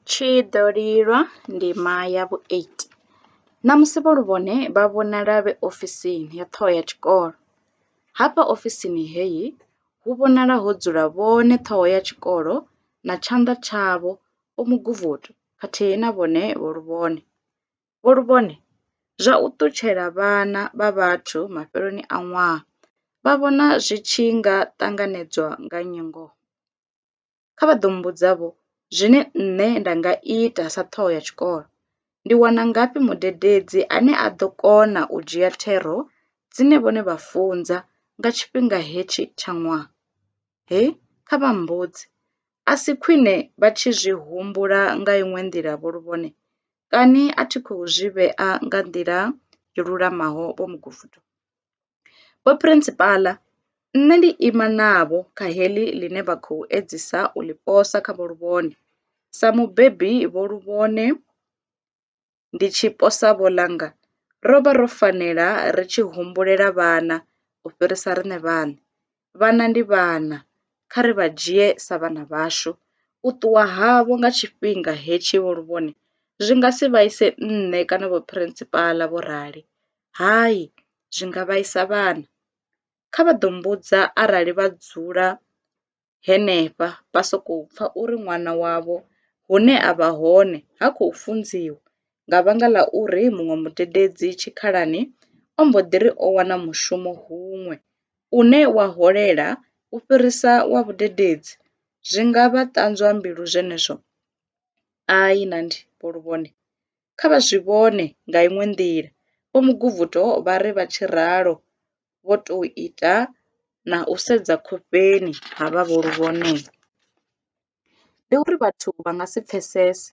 Tshi ḓo lilwa ndima ya vhu-8. Ṋamusi vho Luvhone vha vhonala vhe ofisini ya ṱhoho ya tshikolo. Hafha ofisini heyi hu vhonala ho dzula vhone ṱhoho ya tshikolo na tshanḓa tshavho Vho Muguvhudu khathihi na vhone Vho Luvhone. Vho Luvhone zwa u ṱutshela vhana vha vhathu mafheloni a ṅwaha vha vhona zwi tshi nga ṱanganedzwa nga nnyi ngoho? kha vha ḓo mmbudza vho zwine nṋe nda nga ita sa ṱhoho ya tshikolo. Ndi wana ngafhi mudededzi ane a ḓo kona u dzhia thero dzine vhone vha funza nga tshifhinga hetshi tsha ṅwaha? He, kha vha mmbudze. A si khwine vha tshi zwi humbula nga iṅwe nḓila vho luvhone? Kani a thi khou zwi vhea nga nḓila yo lulamaho vho mugudiswa? Vho Phurensipala, Nṋe ndi ima navho kha heḽi ḽine vha khou edzisa u ḽi posa kha Vho Luvhone. Sa mubebi Vho Luvhone ndi tshi posa vho ḽanga, ro vha ro fanela ri tshi humbulela vhana u fhirisa riṋe vhaṋe. vhana ndi vhana, kha ri vha dzhie sa vhana vhashu. U ṱuwa havho nga tshifhinga hetshi vho Luvhone zwi nga si vhaise nṋe kana Vho Phirinsipala, vho rali. Hai, zwi nga vhaisa vhana. Kha vha ḓo mmbudza arali vha dzula henefha vha sokou pfa uri ṅwana wavho hune a vha hone ha khou funziwa nga vhanga ḽa uri muṅwe mudededzi tshikhalani o mbo ḓi ri o wana mushumo huṅwe une wa holela u fhirisa wa vhudededzi zwi nga vha ṱanzwa mbilu zwenezwo? Ai, na ndi vho lu vhone. Kha vha zwi vhone nga iṅwe nḓila. Vho Muguvhuto vha ri vha tshi ralo vho tou ita na u sedza khofheni ha vha vho lu vhone. ndi uri vhathu vha nga si pfesese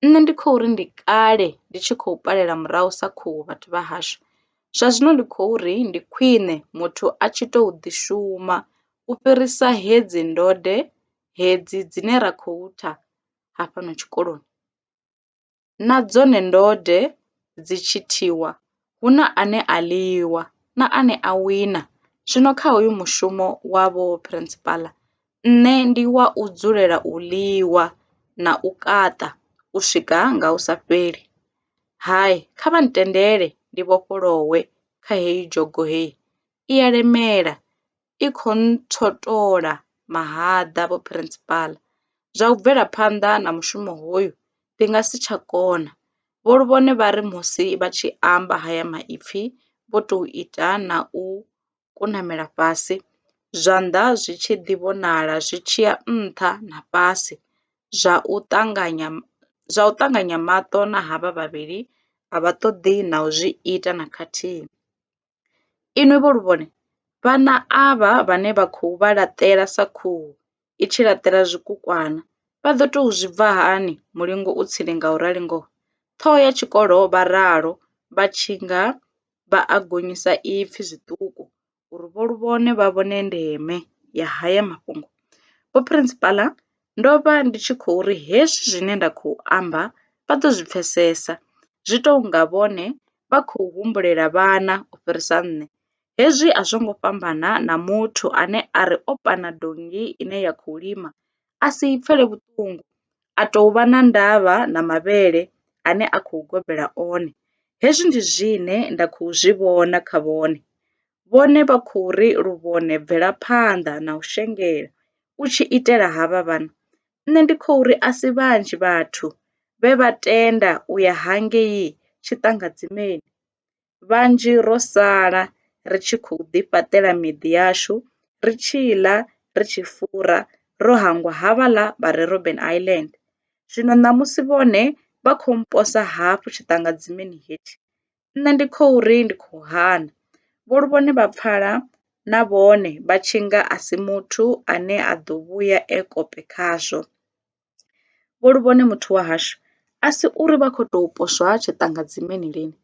nṋe ndi kho ri ndi kale ndi tshi khou ṱalela murahu sa khuhu vhathu vha hashu zwa zwino ndi khou ri ndi khwine muthu a tshi tou ḓi shuma u fhirisa hedzi ndode hedzi dzine ra khou tha hafhano tshikoloni. na dzone ndode dzi tshi thiwa, hu na ane a lwiwa na ane a wina. Zwino kha hoyu mushumo wa vho phurensipala nṋe ndi wa u dzulela u lwiwa na u kaṱa u swika nga hu sa fheli. Hai, kha vha ntendele ndi vhofholowe kha heyi dzhogo hei, i a lemela i khou ntswotola mahaḓa, Vho Phirinsipala. Zwa u bvela phanḓa na mushumo hoyu ndi nga si tsha kona, Vho Luvhone vha ri musi vha tshi amba haya maipfi vho tou ita na u kunamela fhasi, zwanḓa zwi tshi ḓi vhonala zwi tshi ya nṱha na fhasi zwa u ṱanganya zwa u ṱanganya maṱo na havha vhavhili a vha ṱoḓi na u zwi ita na khathihi. Inwi vho lu vhone? Vhana avha vhane vha khou vha laṱela sa khuhu i tshi laṱela zwikukwana, vha ḓo tou zwi bva hani mulingo u tsini nga u rali ngoho? Ṱhoho ya tshikolo vha ralo vha tshi nga vha a gonyisa ipfi zwiṱuku uri vho lu vhone vha vhone ndeme ya haya mafhungo. Vho Phirinsipala, ndo vha ndi tshi khou ri hezwi zwine nda khou amba vha ḓo zwi pfesesa, zwi tou nga vhone vha khou humbulela vhana u fhirisa nṋe. Hezwi a zwo ngo fhambana na muthu ane a ri o pana donngi ine ya khou lima a si i pfele vhuṱungu, a tou vha na ndavha na mavhele ane a khou gobela one. Hezwi ndi zwine nda khou zwi vhona kha vhone. Vhone vha khou ri luvhone bvelaphanḓa na u shengela u tshi itela havha vhana, Nṋe ndi khou ri a si vhanzhi vhathu vhe vha tenda u ya hangei tshiṱangadzimeni. Vhanzhi ro sala ri tshi khou ḓifhaṱela miḓi yashu, ri tshi ḽa, ri tshi fura, ro hangwa havhaḽa vha re Robben Island. Zwino ṋamusi vhone vha khou mposa hafhu tshiṱangadzimeni hetshi, Nṋe ndi khou ri ndi khou hana. Vho Luvhone vha pfala na vhone vha tshi nga a si muthu ane a ḓo vhuya e kope khazwo. Vho Luvhone muthu wa hashu a si uri vha khou tou poswa tshiṱangadzimeni lini,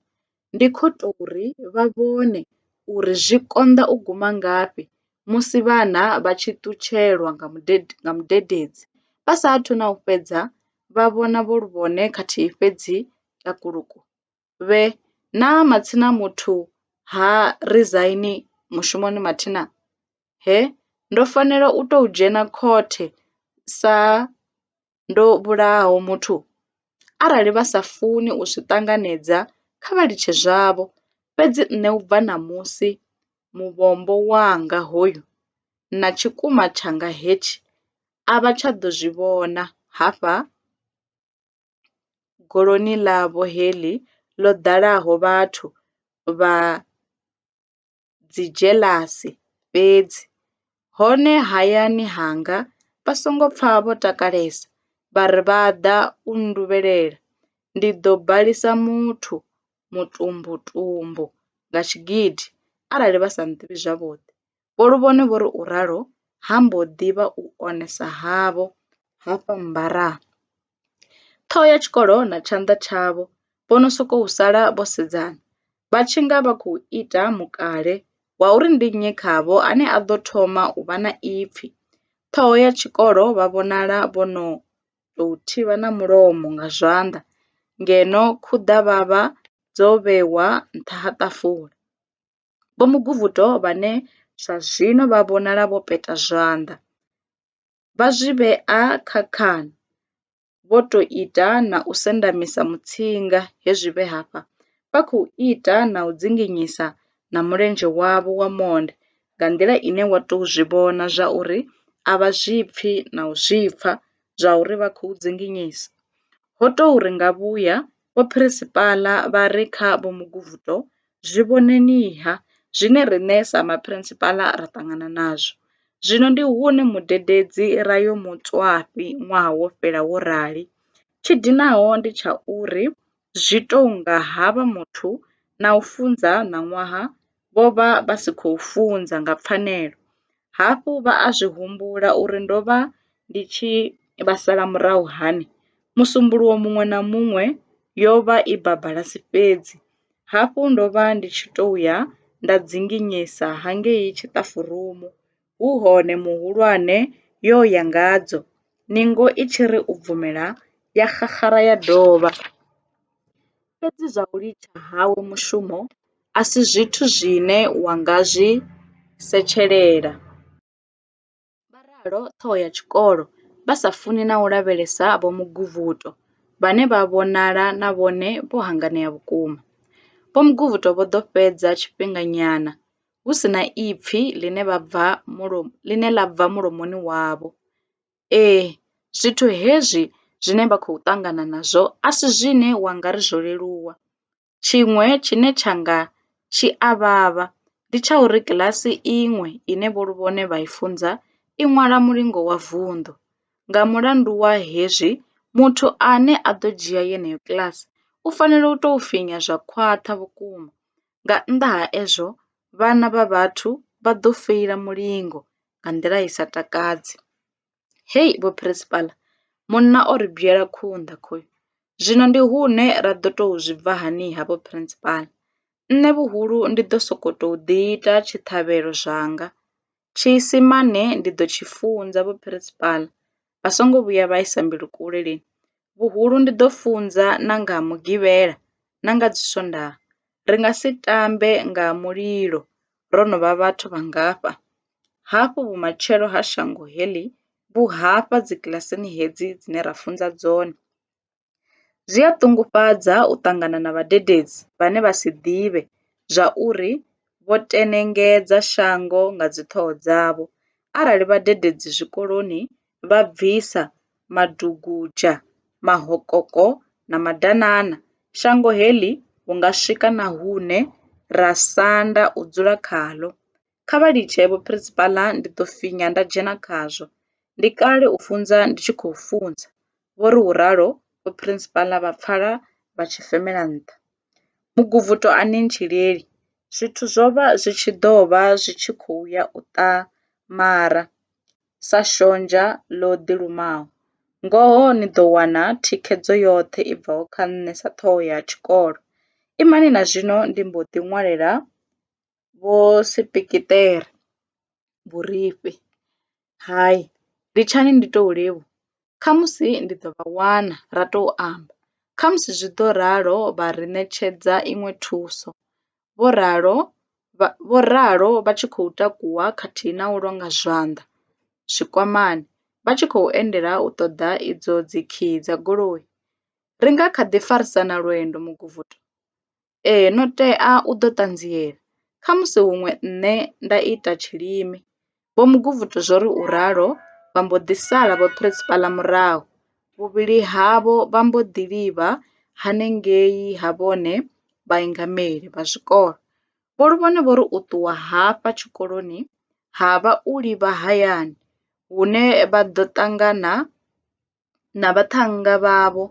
ndi khou tou ri vha vhone uri zwi konḓa u guma ngafhi musi vhana vha tshi ṱutshelwa nga mudededzi vha sa athu na u fhedza vha vhona Vho Luvhone khathihi fhedzi takuluku! vhe, Naa matsina muthu ha rizaini mushumoni mathina? He, Ndo fanela u tou dzhena khothe sa ndo vhulahaho muthu? Arali vha sa funi u zwi ṱanganedza, kha vha litshe zwavho. Fhedzi nṋe u bva ṋamusi, muvhombo wanga hoyu na tshikwama tshanga hetshi a vha tsha ḓo zwi vhona hafha. goloni ḽavho heḽi ḽo ḓalaho vhathu vha dzidzhelasi fhedzi, hone hayani hanga vha songo pfa vho takalesa, vha ri vha ḓa u nnduvhelela, ndi ḓo balisa muthu mutumbutumbu nga tshigidi arali vha sa nḓivhi zwavhuḓi. Vho Luvhone vho ri u ralo ha mbo ḓi vha u onesa havho ha fa mbaraa. Ṱhoho ya tshikolo na tshanḓa tshavho vho no sokou sala vho sedzana, vha tshi nga vha khou ita mukale wa uri ndi nnyi khavho ane a ḓo thoma u vha na ipfi. Ṱhoho ya tshikolo vha vhonala vho no tou thivha na mulomo nga zwanḓa ngeno khuḓavhavha dzo vhewa nṱha ha ṱafula. Vho Muguvhu-doo vhane zwa zwino vha vhonala vho peta zwanḓa, vha zwi vhea kha khan, vho tou ita na u sendamisa mutsinga he zwi vhe hafha, vha khou ita na u dzinginyisa na mulenzhe wavho wa monde nga nḓila ine wa tou zwi vhona zwa uri a vha zwi pfi na u zwi pfa zwa uri vha khou dzinginyisa. Ho tou ri nga vhuya Vhophrinsipala vha re kha vho Muguvuto, zwi vhoneni-ha, zwine riṋe sa Maphrinsipala ra ṱangana nazwo. Zwino ndi hune mudededzi ra yo mu tswafhi ṅwaha wo fhela wo rali. Tshi dinaho ndi tsha uri zwi tou nga ha vha muthu na u funza ṋaṅwaha vho vha vha si khou funza nga pfanelo. Hafhu vha a zwi humbula uri ndo vha ndi tshi vha sala murahu hani? Musumbuluwo muṅwe na muṅwe yo vha i babalasi fhedzi. Hafhu ndo vha ndi tshi tou ya nda dzinginyisa hangei tshiṱafurumu. hu hone muhulwane yo ya ngadzo, ningo i tshi ri u bvumela, ya xaxara ya dovha. Fhedzi zwa u litsha hawe mushumo a si zwithu zwine wa nga zwi setshelela. Vha ralo ṱhoho ya tshikolo, vha sa funi na u lavhelesa Vho Muguvhuto, vhane vha vhonala na vhone vho hanganea vhukuma. Vho Muguvhuto vho ḓo fhedza tshifhinganyana hu si na ipfi ḽine vha bva mulo, ḽine ḽa bva mulomoni wavho. Ee, zwithu hezwi zwine vha khou ṱangana nazwo a si zwine wa nga ri zwo leluwa. Tshiṅwe tshine tsha nga tshi a vhavha ndi tsha uri kiḽasi iṅwe ine vho Luvhone vha i funza i ṅwala mulingo wa vunḓu. Nga mulandu wa hezwi, muthu ane a ḓo dzhia yeneyo kiḽasi u fanela u tou finya zwa khwaṱha vhukuma Nga nnḓa ha ezwo, vhana vha vhathu vha ḓo feila mulingo nga nḓila i sa takadzi. Hei vho Phirisikila, munna o ri bwela khunḓa khoyu! Zwino ndi hune ra ḓo tou zwi bva hani-ha vho Phirisikila? Nṋe vhuhulu ndi ḓo sokou tou ḓiita tshiṱhavhelo zwanga, Tshiisimane ndi ḓo tshi funza vhuphirisipala, vha songo vhuya vha isa mbilu kule lini. Vhuhulu ndi ḓo funza na nga ha Mugivhela na nga Dziswondaha. Ri nga si tambe nga ha mulilo ro no vha vhathu vhangafha. Hafhu vhumatshelo ha shango heḽi vhu hafha dzikilasini hedzi dzine ra funza dzone. Zwi a ṱungufhadza u ṱangana na vhadededzi vhane vha si ḓivhe zwauri vho tenengedza shango nga dziṱhoho dzavho arali vhadededzi zwikoloni vha bvisa madugudzha, mahokoko na madanana, shango heḽi hu nga swika na hune ra sanda u dzula khaḽo. Kha vha litshe, vho Phurisipaḽa, ndi ḓo finya nda dzhena khazwo. Ndi kale u funza ndi tshi khou funza, vho ri u ralo Vho Phurisipaḽa vha pfala vha tshi femela nṱha. Muguvhuto a ni ntshileli, zwithu zwo vha zwi tshi ḓo vha zwi tshi khou ya u ṱamara sa shonzha ḽo ḓilumaho. Ngoho ni ḓo wana thikhedzo yoṱhe i bvaho kha nṋe sa ṱhoho ya tshikolo. Imani na zwino ndi mbo ḓi ṅwalela vho sepekeṱere vhurifhi. Hai, litshani ndi tou livhuwa, khamusi ndi ḓo vha wana ra tou amba. Khamusi zwi ḓo ralo vha ri ṋetshedza iṅwe thuso, vho ralo vha vho ralo vha tshi khou takuwa khathihi na u longa zwanḓa zwikwamani vha tshi khou endela u ṱoḓa idzo dzikhiyi dza goloi. Ri nga kha ḓi farisana lwendo Muguvhuto? Ee, no tea u ḓo ṱanziela. Khamusi huṅwe nṋe nda ita tshilimi. Vho Muguvhutu zwo ri u ralo vha mbo ḓi sala vho Principala murahu. Vhuvhili havho vha mbo ḓi livha hanengei ha vhone vhaingameli vha zwikolo. Vho Luvhone vho ri u ṱuwa hafha tshikoloni ha vha u livha hayani hune vha ḓo ṱangana na vhaṱhannga vhavho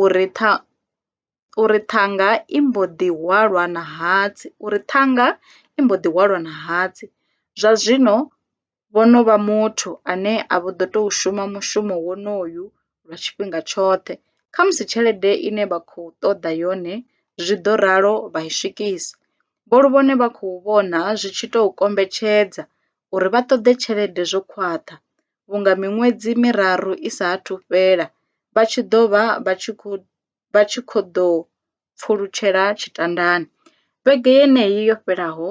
uri tha uri ṱhanga i mbo ḓi hwalwa na hatsi uri ṱhanga i mbo ḓi hwalwa na hatsi zwa zwino vho no vha muthu ane a vho ḓo tou shuma mushumo wonoyu lwa tshifhinga tshoṱhe khamusi tshelede ine vha khou ṱoḓa yone zwi ḓo ralo vha i swikisa vho Luvhone vha khou vhona zwi tshi tou kombetshedza uri vha ṱoḓe tshelede zwo khwaṱha vhunga miṅwedzi miraru i sa athu fhela vha tshi ḓo vha vha tshi khou ḓo pfulutshela tshitandani. Vhege yeneyi yo fhelaho,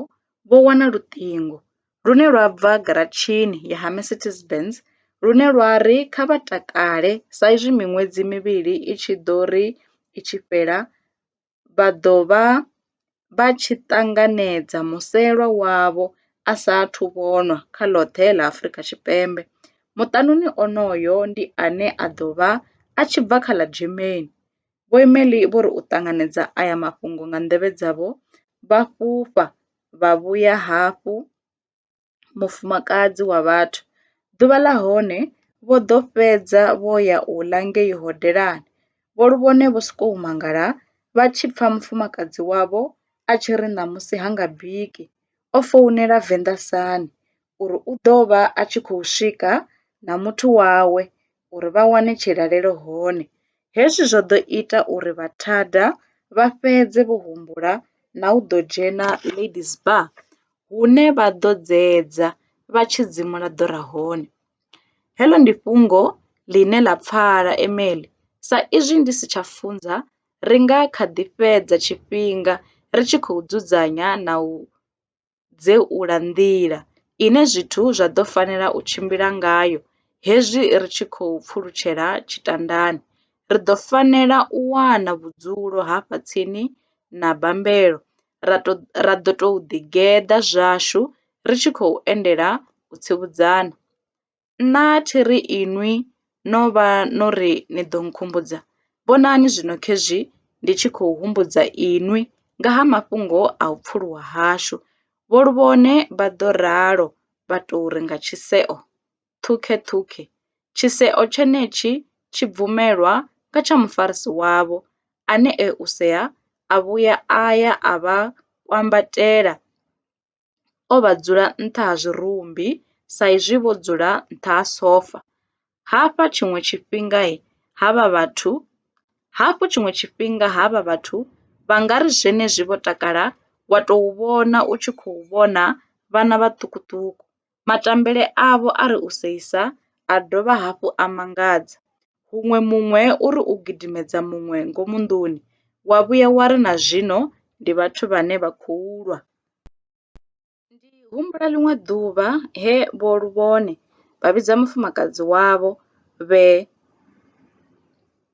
vho wana luṱingo lune lwa bva garatshini ya ha Mercedes Benz lune lwa ri kha vha takale saizwi miṅwedzi mivhili i tshi ḓo ri i tshi fhela vha ḓo vha vha tshi ṱanganedza muselwa wavho a sa athu vhonwa kha ḽoṱhe ḽa Afrika Tshipembe. Muṱanuni onoyo ndi ane a ḓo vha a tshi bva kha ḽa Germany. Vho Emelie vho ri u ṱanganedza aya mafhungo nga nḓevhe dzavho vha fhufha vha vhuya hafhu. mufumakadzi wa vhathu. Ḓuvha ḽa hone vho ḓo fhedza vho ya u ḽa ngei hodelani, vho lu vhone vho sokou mangala vha tshi pfa mufumakadzi wavho a tshi ri ṋamusi ha nga biki, o founela Venḓa Sun uri u ḓo vha a tshi khou swika na muthu wawe uri vha wane tshilalelo hone. Hezwi zwo ḓo ita uri vhathada vha fhedze vho humbula na u ḓo dzhena Ladies Bar hune vha ḓo dzedza vha tshi dzimula ḓora hone. Heḽo ndi fhungo ḽine ḽa pfala Emily sa izwi ndi si tsha funza ri nga kha ḓi fhedza tshifhinga ri tshi khou dzudzanya na u. dzeula nḓila ine zwithu zwa ḓo fanela u tshimbila ngayo hezwi ri tshi khou pfulutshela tshitandani. Ri ḓo fanela u wana vhudzulo hafha tsini na bammbelo ra ḓo tou ḓigeḓa zwashu ri tshi khou endela u tsivhudzana. Nṋa thi ri inwi no vha no ri ni ḓo nkhumbudza, vhonani zwino khezwi ndi tshi khou humbudza inwi nga ha mafhungo a u pfuluwa hashu. Vho Luvhone vha ḓo ralo vha tou ri nga tshiseo, Ṱhukheṱhukhe! Tshiseo tshenetshi tshi bvumelwa nga tsha mufarisi wavho, ane e u sea a vhuya a ya a vha kwambatela. o vha dzula nṱha ha zwirumbi sa izwi vho dzula nṱha ha sofa. Hafha tshiṅwe tshifhinga ha vha vhathu, hafhu tshiṅwe tshifhinga ha vha vhathu vha nga ri zwenezwi vho takala wa tou vhona u tshi khou vhona vhana vhaṱukuṱuku Matambele avho a ri u seisa a dovha hafhu a mangadza. Huṅwe muṅwe u ri u gidimedza muṅwe ngomu nḓuni, wa vhuya wa ri na zwino ndi vhathu vhane vha khou lwa. Ndi humbula ḽiṅwe ḓuvha he Vho Luvhone vha vhidza mufumakadzi wavho vhe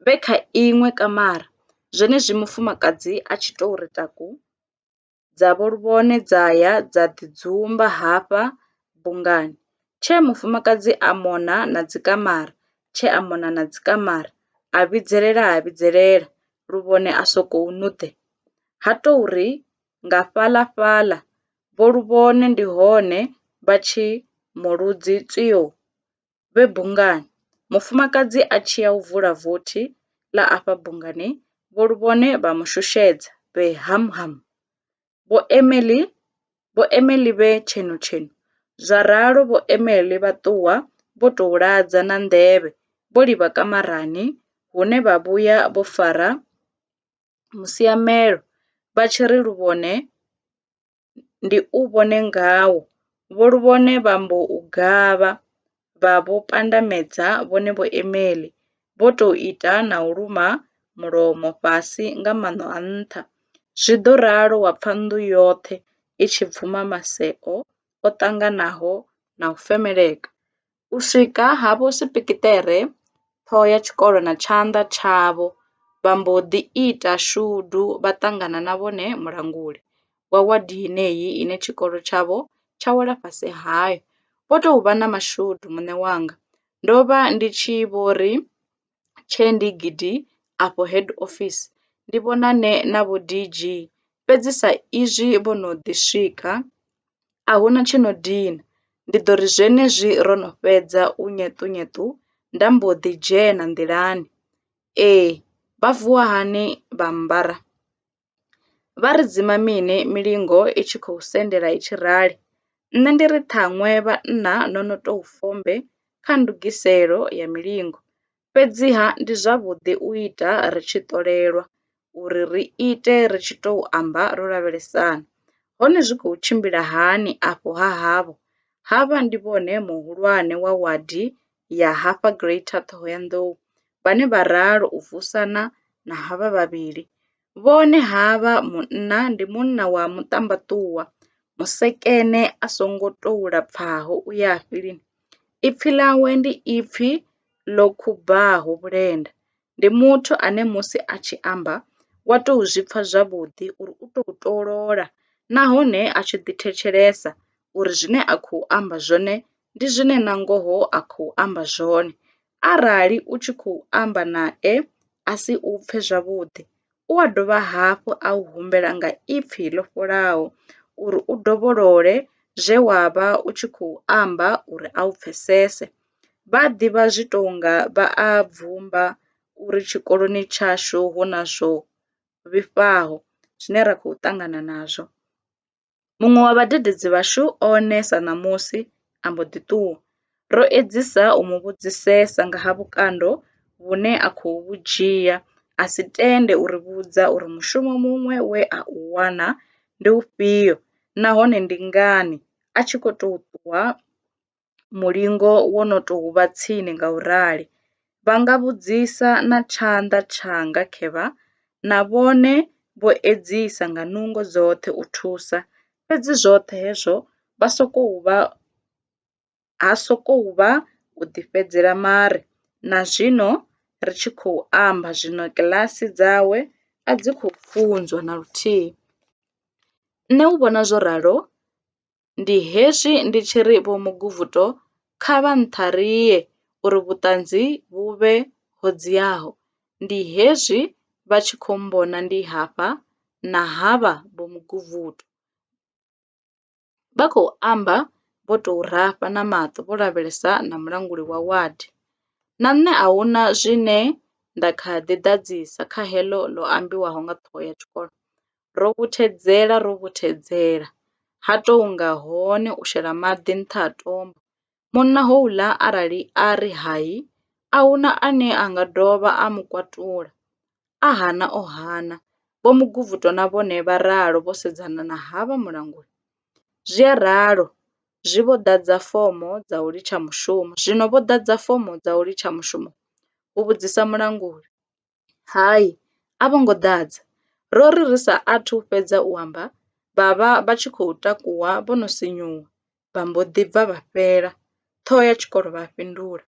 vhe kha iṅwe kamara zwenezwi mufumakadzi a tshi tou ri taku. dza vho Luvhone dza ya dza ḓi dzumba hafha bungani. Tshee mufumakadzi a mona na dzikamara, tshee a mona na dzikamara, a vhidzelela ha vhidzelela, Luvhone a sokou nuḓe. Ha tou ri nga fhaḽa-fhaḽa, vho Luvhone ndi hone vha tshi mu ludzi tswiyo! vhe bungani. Mufumakadzi a tshi ya u vula vothi ḽa afha bungani, vho Luvhone vha mu shushedza, vhe ham ham! Vho Emily, Vho Emily vhe tshenu tshenu! Zwa ralo vho Emily vha ṱuwa vho tou ladza na nḓevhe, vho livha kamarani hune vha vhuya vho fara musiamelo vha tshi ri Luvhone, ndi u vhone ngao, vho luvhone vha mbo u gavha, vha vhu pandamedza vhone vho Emily, vho tou ita na u luma mulomo fhasi nga maṋo a nṱha. Zwi ḓo ralo wa pfa nnḓu yoṱhe i tshi bvuma maseo o ṱanganaho na u femeleka. U swika havho sepekeṱere, ṱhoho ya tshikolo na tshanḓa tshavho, vha mbo ḓi ita shudu vha ṱangana na vhone mulanguli wa wadi yeneyi ine tshikolo tshavho tsha wela fhasi hayo. Vho tou vha na mashudu, muṋe wanga. Ndo vha ndi tshi vho ri. tshee ndi gidi afho head office ndi vhonane na vho DG, fhedzi sa izwi vho no ḓi swika, a hu na tshi no dina. Ndi ḓo ri zwenezwi ro no fhedza u nyeṱunyeṱu nda mbo ḓi dzhena nḓilani. Ee, vha vuwa hani vha ambara? Vha ri dzima mini milingo i tshi khou sendela i tshi rali? Nṋe ndi ri ṱhaṅwe vhanna no no tou fombe kha ndugiselo ya milingo. Fhedziha ndi zwavhuḓi u ita ri tshi ṱolelwa, uri ri ite ri tshi tou amba ro lavhelesana. Hone zwi khou tshimbila hani afho ha havho? Havha ndi vhone muhulwane wa wadi ya hafha Greater Thohoyandou, vhane vha ralo u vusana na havha vhavhili, vhone havha munna ndi munna wa muṱambaṱuwa, musekene a songo tou lapfaho u yafhi lini, ipfi ḽawe ndi ipfi ḽo khubaho vhulenda, ndi muthu ane musi a tshi amba wa tou zwi pfha zwavhuḓi uri u tou tolola nahone a tshi ḓi thetshelesa uri zwine a khou amba zwone ndi zwine na ngoho a khou amba zwone. Arali u tshi khou amba nae a si u pfhe zwavhuḓi u a dovha hafhu a u humbela nga ipfhi ḽo fholaho uri u dovholole zwe wa vha u tshi khou amba uri a u pfhesese. Vha a ḓivha zwi tou nga vha a bvumba uri tshikoloni tshashu hu na zwo vhifhaho zwine ra khou ṱangana nazwo. Muṅwe wa vhadededzi vhashu o neta ṋamusi a mbo ḓi ṱuwa. Ro edzisa u mu vhudzisesa nga ha vhukando vhune a khou vhu dzhia, a si tende u ri vhudza uri mushumo muṅwe we a u wana ndi ufhio nahone ndi ngani a tshi khou tou ṱuwa. mulingo wo no tou vha tsini nga u rali, vha nga vhudzisa na tshanḓa tshanga khevha, na vhone vho edzisa nga nungo dzoṱhe u thusa, fhedzi zwoṱhe hezwo vha sokou vha, ha sokou vha u ḓifhedzela mare na zwino ri tshi khou amba zwino kiḽasi dzawe a dzi khou funzwa na luthihi. Nṋe u vhona zwo ralo Ndi hezwi ndi tshi ri Vho Muguvhuto kha vha nṱharie uri vhuṱanzi vhu vhe ho dziaho. Ndi hezwi vha tshi khou mmbona ndi hafha na havha Vho Muguvhuto. Vha khou amba vho tou rafha na maṱo vho lavhelesa na mulanguli wa ward. Na nṋe a hu na zwine nda kha ḓi ḓadzisa kha heḽo ḽo ambiwaho nga ṱhoho ya tshikolo. ro vhuthedzela ro vhuthedzela ha tou nga hone u shela maḓi nṱha ha tombo. Munna houḽa arali a ri hai, a hu na ane a nga dovha a mu kwatula. A hana o hana. Vho Muguvhuto na vhone vha ralo vho sedzana na havha mulanguli. Zwi a ralo, zwi vho ḓadza fomo dza u litsha mushumo. Zwino vho ḓadza fomo dza u litsha mushumo? hu vhudzisa mulanguli. Hai, a vho ngo ḓadza. Ro ri ri sa athu fhedza u amba, vha vha vha tshi khou takuwa vho no sinyuwa, vha mbo ḓi bva vha fhela. Ṱhoho ya tshikolo vha a fhindula.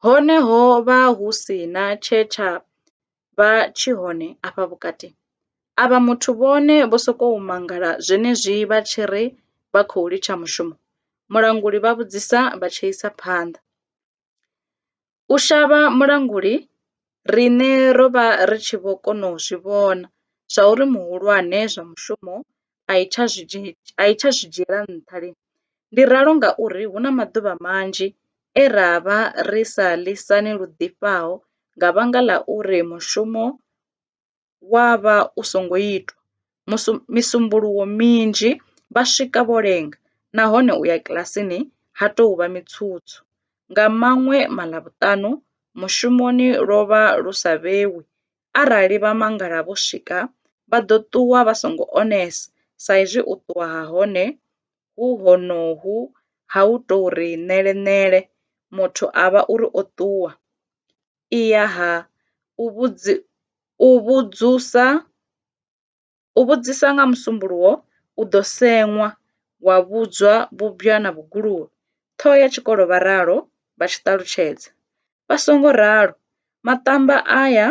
Hone ho vha hu si na tshe tsha vha tshi hone afha vhukati. Avha muthu vhone vho sokou mangala zwenezwi vha tshi ri vha khou litsha mushumo? Mulanguli vha vhudzisa vha tshi isa phanḓa. U shavha mulanguli, riṋe ro vha ri tshi vho kona u zwi vhona zwauri muhulwane zwa mushumo a i tsha zwi dzhi, a i tsha zwi dzhiela nṱha lini. Ndi ralo ngauri hu na maḓuvha manzhi e ra vha ri sa lisani lu ḓifhaho nga vhanga ḽa uri mushumo. wa vha u songo itwa. Musu misumbuluwo minzhi vha swika vho lenga nahone u ya kilasini ha tou vha mitswutswu. Nga maṅwe Maḽavhuṱanu mushumoni lwo vha lu sa vhewi, arali vha mangala vho swika vha ḓo ṱuwa vha songo onesa sa izwi u ṱuwa ha hone hu honohu ha u tou ri ṋele ṋele, muthu a vha uri o ṱuwa. i ya ha u vhudzi, u vhudzusa, u vhudzisa nga musumbuluwo u ḓo seṅwa wa vhudzwa vhubwa na vhuguluvhe, ṱhoho ya tshikolo vha ralo vha tshi ṱalutshedza. Vha songo ralo, maṱamba aya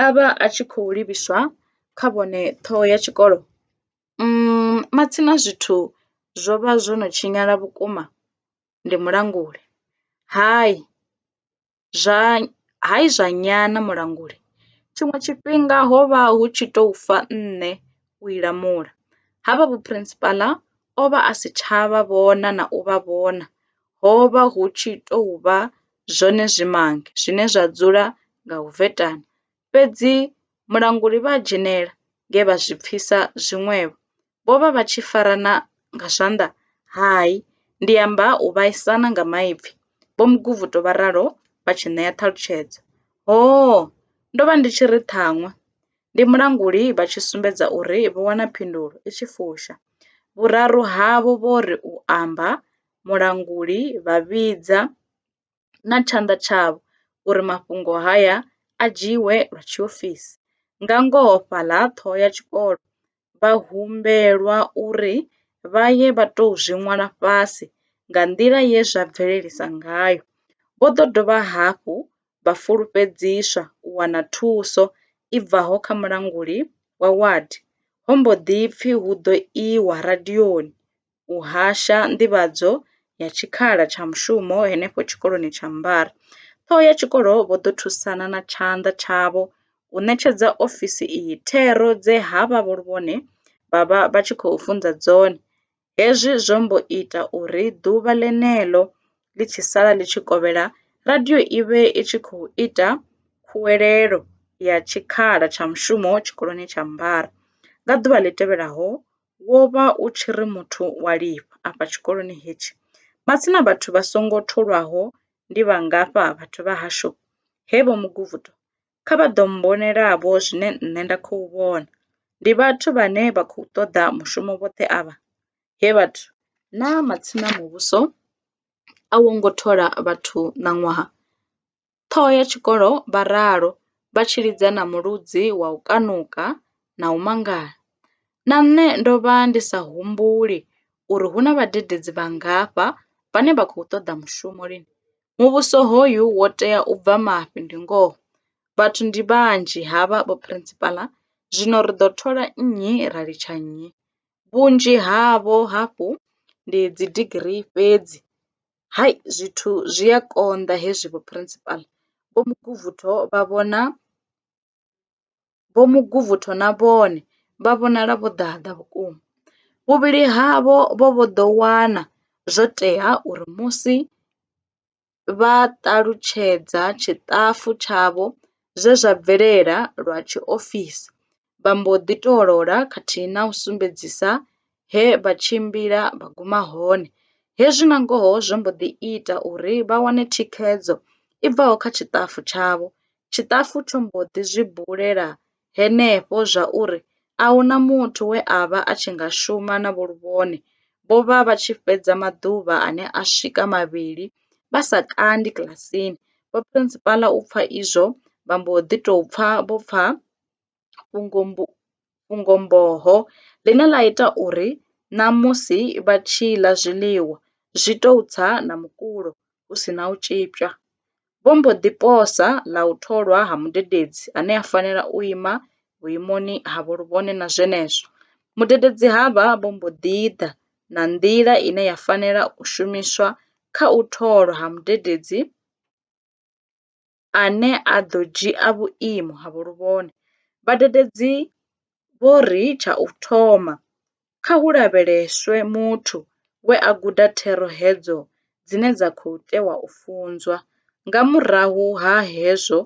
a vha a tshi khou livhiswa kha vhone ṱhoho ya tshikolo. Umm matsina zwithu zwo vha zwo no tshinyala vhukuma ndi mulanguli. Hai zwa hai zwa nyana mulanguli tshiṅwe tshifhinga ho vha hu tshi tou fa nṋe u i lamula, ha vha vho Principal o vha a si tsha vha vhona na u vha vhona ho vha hu tshi tou vha zwone zwimange zwine zwa dzula nga u vetana. Fhedzi mulanguli vha a dzhenela nge vha zwi pfisa zwiṅwevho. Vho vha vha tshi farana nga zwanḓa? Hai, ndi amba u vhaisana nga maipfi, Vho Muguvhuto vha ralo vha tshi ṋea ṱhalutshedzo. Hoo! Ndo vha ndi tshi ri ṱhaṅwe ndi mulanguli vha tshi sumbedza uri vho wana phindulo i tshi fusha. Vhuraru havho vho ri u amba mulanguli vha vhidza na tshanḓa tshavho uri mafhungo haya a dzhiiwe lwa tshiofisi. Nga ngoho fhaḽa ṱhoho ya tshikolo vha humbelwa uri vha ye vha tou zwi ṅwala fhasi nga nḓila ye zwa bvelelisa ngayo. Vho ḓo dovha hafhu vha fulufhedziswa u wana thuso i bvaho kha mulanguli wa wadi. Ho mbo ḓi pfi hu ḓo iwa radioni u hasha nḓivhadzo ya tshikhala tsha mushumo henefho tshikoloni tsha Mbare. Ṱhoho ya tshikolo vho ḓo thusana na tshanḓa tshavho u ṋetshedza ofisi iyi thero dze ha vha vhone vha vha vha tshi khou funza dzone. Hezwi zwo mbo ita uri ḓuvha ḽeneḽo ḽi tshi sala ḽi tshi kovhela, radio i vhe i tshi khou ita khuwelelo ya tshikhala tsha mushumo tshikoloni tsha Mbare. Nga ḓuvha ḽi tevhelaho, wo vha u tshi ri muthu wa lifha. Afha tshikoloni hetshi, matsina vhathu vha songo tholwaho ndi vhangafha vhathu vha hashu? He Vho Muguvhuto, kha vha ḓo mmbonela-vho zwine nṋe nda khou vhona. Ndi vhathu vhane vha khou ṱoḓa mushumo vhoṱhe avha? He vhathu. Naa matsina muvhuso a wo ngo thola vhathu ṋaṅwaha? Ṱhoho ya tshikolo vha ralo vha tshi lidza na muludzi wa u kanuka na u mangala. Na nṋe ndo vha ndi sa humbuli uri hu na vhadededzi vhangafha vhane vha khou ṱoḓa mushumo lini. Muvhuso hoyu wo tea u bva mafhi ndi ngoho. Vhathu ndi vhanzhi havha vho Phurensipala zwino ri ḓo thola nnyi ra litsha nnyi? Vhunzhi havho hafhu ndi dzidigirii fhedzi. hai zwithu zwi a konḓa hezwi vho principal. Vho Muguvhutho vha vhona Vho Muguvhutho na vhone vha vhonala vho ḓaḓa vhukuma. Vhuvhili havho vho vho ḓo wana zwo tea uri musi vha ṱalutshedza tshiṱafu tshavho zwe zwa bvelela lwa tshiofisi, vha mbo ḓi tou lola khathihi na u sumbedzisa he vha tshimbila vha guma hone. Hezwi nangoho zwo mbo ḓi ita uri vha wane thikhedzo i bvaho kha tshiṱafu tshavho. Tshiṱafu tsho mbo ḓi zwi bulela henefho zwauri a hu na muthu we a vha a tshi nga shuma na Vho Luvhone. Vho vha vha tshi fhedza maḓuvha ane a swika mavhili vha sa kandi kilasini. Vho Phurensipala u pfa izwo vha mbo ḓi tou pfa vho pfa fhungo-mboho ḽine ḽa ita uri na musi vha tshi ḽa zwiḽiwa zwi tou tsa na mukulo hu si na u tzhipiwa, vho mbo ḓi posa ḽa u tholwa ha mudededzi ane a fanela u ima vhuimoni ha vholuvhone na zwenezwo, mudededzi havha vho mbo ḓi ḓa na nḓila ine ya fanela u shumiswa kha u tholwa ha mudededzi. ane a ḓo dzhia vhuimo ha vhuluvhone. Vhadededzi vho ri tsha u thoma, kha hu lavheleswe muthu we a guda thero hedzo dzine dza khou tewa u funzwa. Nga murahu ha hezwo,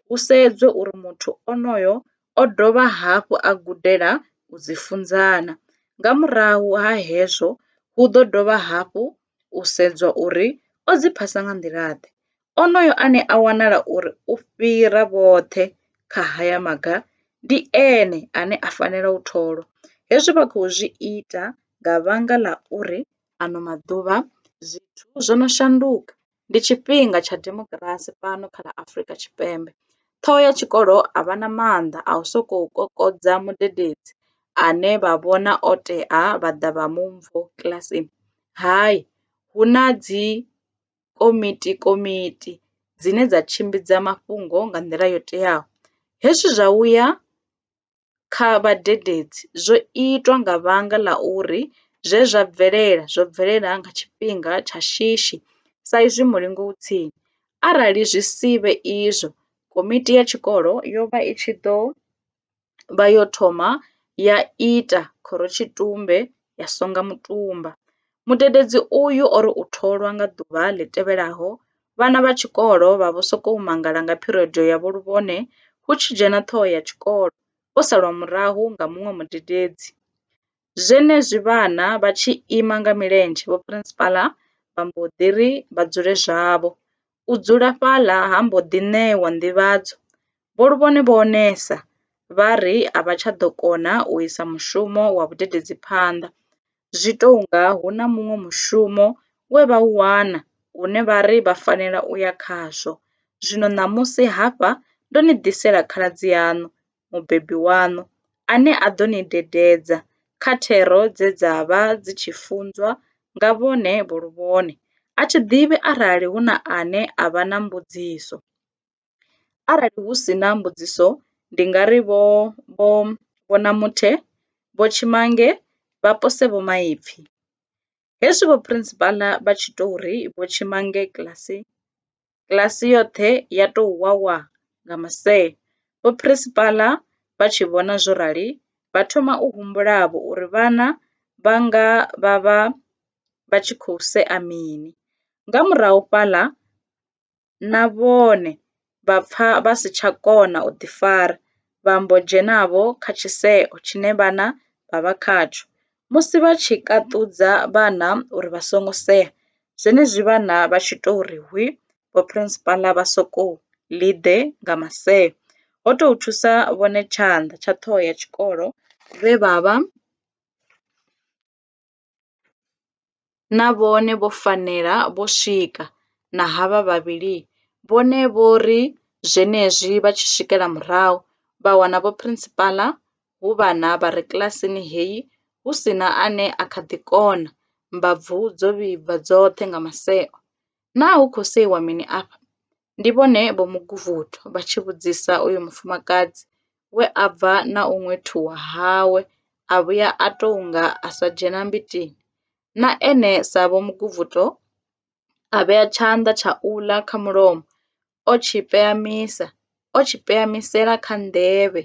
hu sedzwe uri muthu onoyo o dovha hafhu a gudela u dzi funza na. Nga murahu ha hezwo, hu ḓo dovha hafhu u sedzwa uri o dzi phasa nga nḓila-ḓe. Onoyo ane a wanala uri u fhira vhoṱhe kha haya maga ndi ene ane a fanela u tholwa. Hezwi vha khou zwi ita nga vhanga ḽa uri ano maḓuvha zwithu zwo no shanduka, ndi tshifhinga tsha demokirasi fhano kha ḽa Afrika Tshipembe. Ṱhoho ya tshikolo a vha na maanḓa a u sokou kokodza mudededzi ane vha vhona o tea vha ḓa vha mu kilasini, hai, hu na dzi. komiti komiti dzine dza tshimbidza mafhungo nga nḓila yo teaho. Hezwi zwa vhuya kha vhadededzi zwo itwa nga vhanga ḽa uri zwe zwa bvelela zwo bvelela nga tshifhinga tsha shishi sa izwi mulingo u tsini. Arali zwi sivhe izwo komiti ya tshikolo yo vha i tshi ḓo. vha yo thoma ya ita Khorotshitumbe ya songa mutumba. Mudededzi uyu o ri u tholwa nga ḓuvha ḽi tevhelaho, vhana vha tshikolo vha vho sokou mangala nga phirodo ya vho Luvhone hu tshi dzhena ṱhoho ya tshikolo, vho salwa murahu nga muṅwe mudededzi. Zwenezwi vhana vha tshi ima nga milenzhe, vho Phirinsipala vha mbo ḓi ri vha dzule zwavho. U dzula fhaḽa ha mbo ḓi ṋewa nḓivhadzo. Vho Luvhone vho onesa, vha ri a vha tsha ḓo kona u isa mushumo wa vhudededzi phanḓa. Zwi tou nga hu na muṅwe mushumo we vha u wana une vha ri vha fanela u ya khazwo. Zwino ṋamusi hafha ndo ni ḓisela khaladzi yaṋu, Mubebi waṋu, ane a ḓo ni dededza kha thero dze dza vha dzi tshi funzwa nga vhone vho luvhone. A thi ḓivhi arali hu na ane a vha na mbudziso. Arali hu si na mbudziso, ndi nga ri Vho, Vho, Vho Namuthe, Vho Tshimange vha pose vhomaipfi. Hezwi vho Principal vha tshi tou ri vho tshima ngei kiḽasini, kiḽasi yoṱhe ya tou wawa nga maseo. Vho Principal vha tshi vhona zwo rali, vha thoma u humbula-vho uri vhana vha nga vha vha vha tshi khou sea mini. Nga murahu fhaḽa, na vhone vha pfa vha si tsha kona u ḓifara, vha mbo dzhena-vho kha tshiseo tshine vhana vha vha khatsho. Musi vha tshi kaṱudza vhana uri vha songo sea, zwenezwi vhana vha tshi tou ri hwi, vhophirinsipala vha sokou ḽi ḓe nga maseo. Ho tou thusa vhone tshanḓa tsha ṱhoho ya tshikolo vhe vha vha. na vhone vho fanela vho swika na havha vhavhili vhone vho ri zwenezwi vha tshi swikela murahu vha wana vho Principal hu vhana vha re kilasini heyi hu si na ane a kha ḓi kona, mbabvu dzo vhibva dzoṱhe nga maseo. Naa hu khou seiwa mini afha? Ndi vhone Vho Muguvuthu vha tshi vhudzisa uyo mufumakadzi we a bva na u ṅwethuwa hawe a vhuya a tou nga a sa dzhena mbitini. Na ene sa Vho Muguvutho a vhea tshanḓa tsha u ḽa kha mulomo o tshi peyamisa, o tshi peyamisela kha nḓevhe.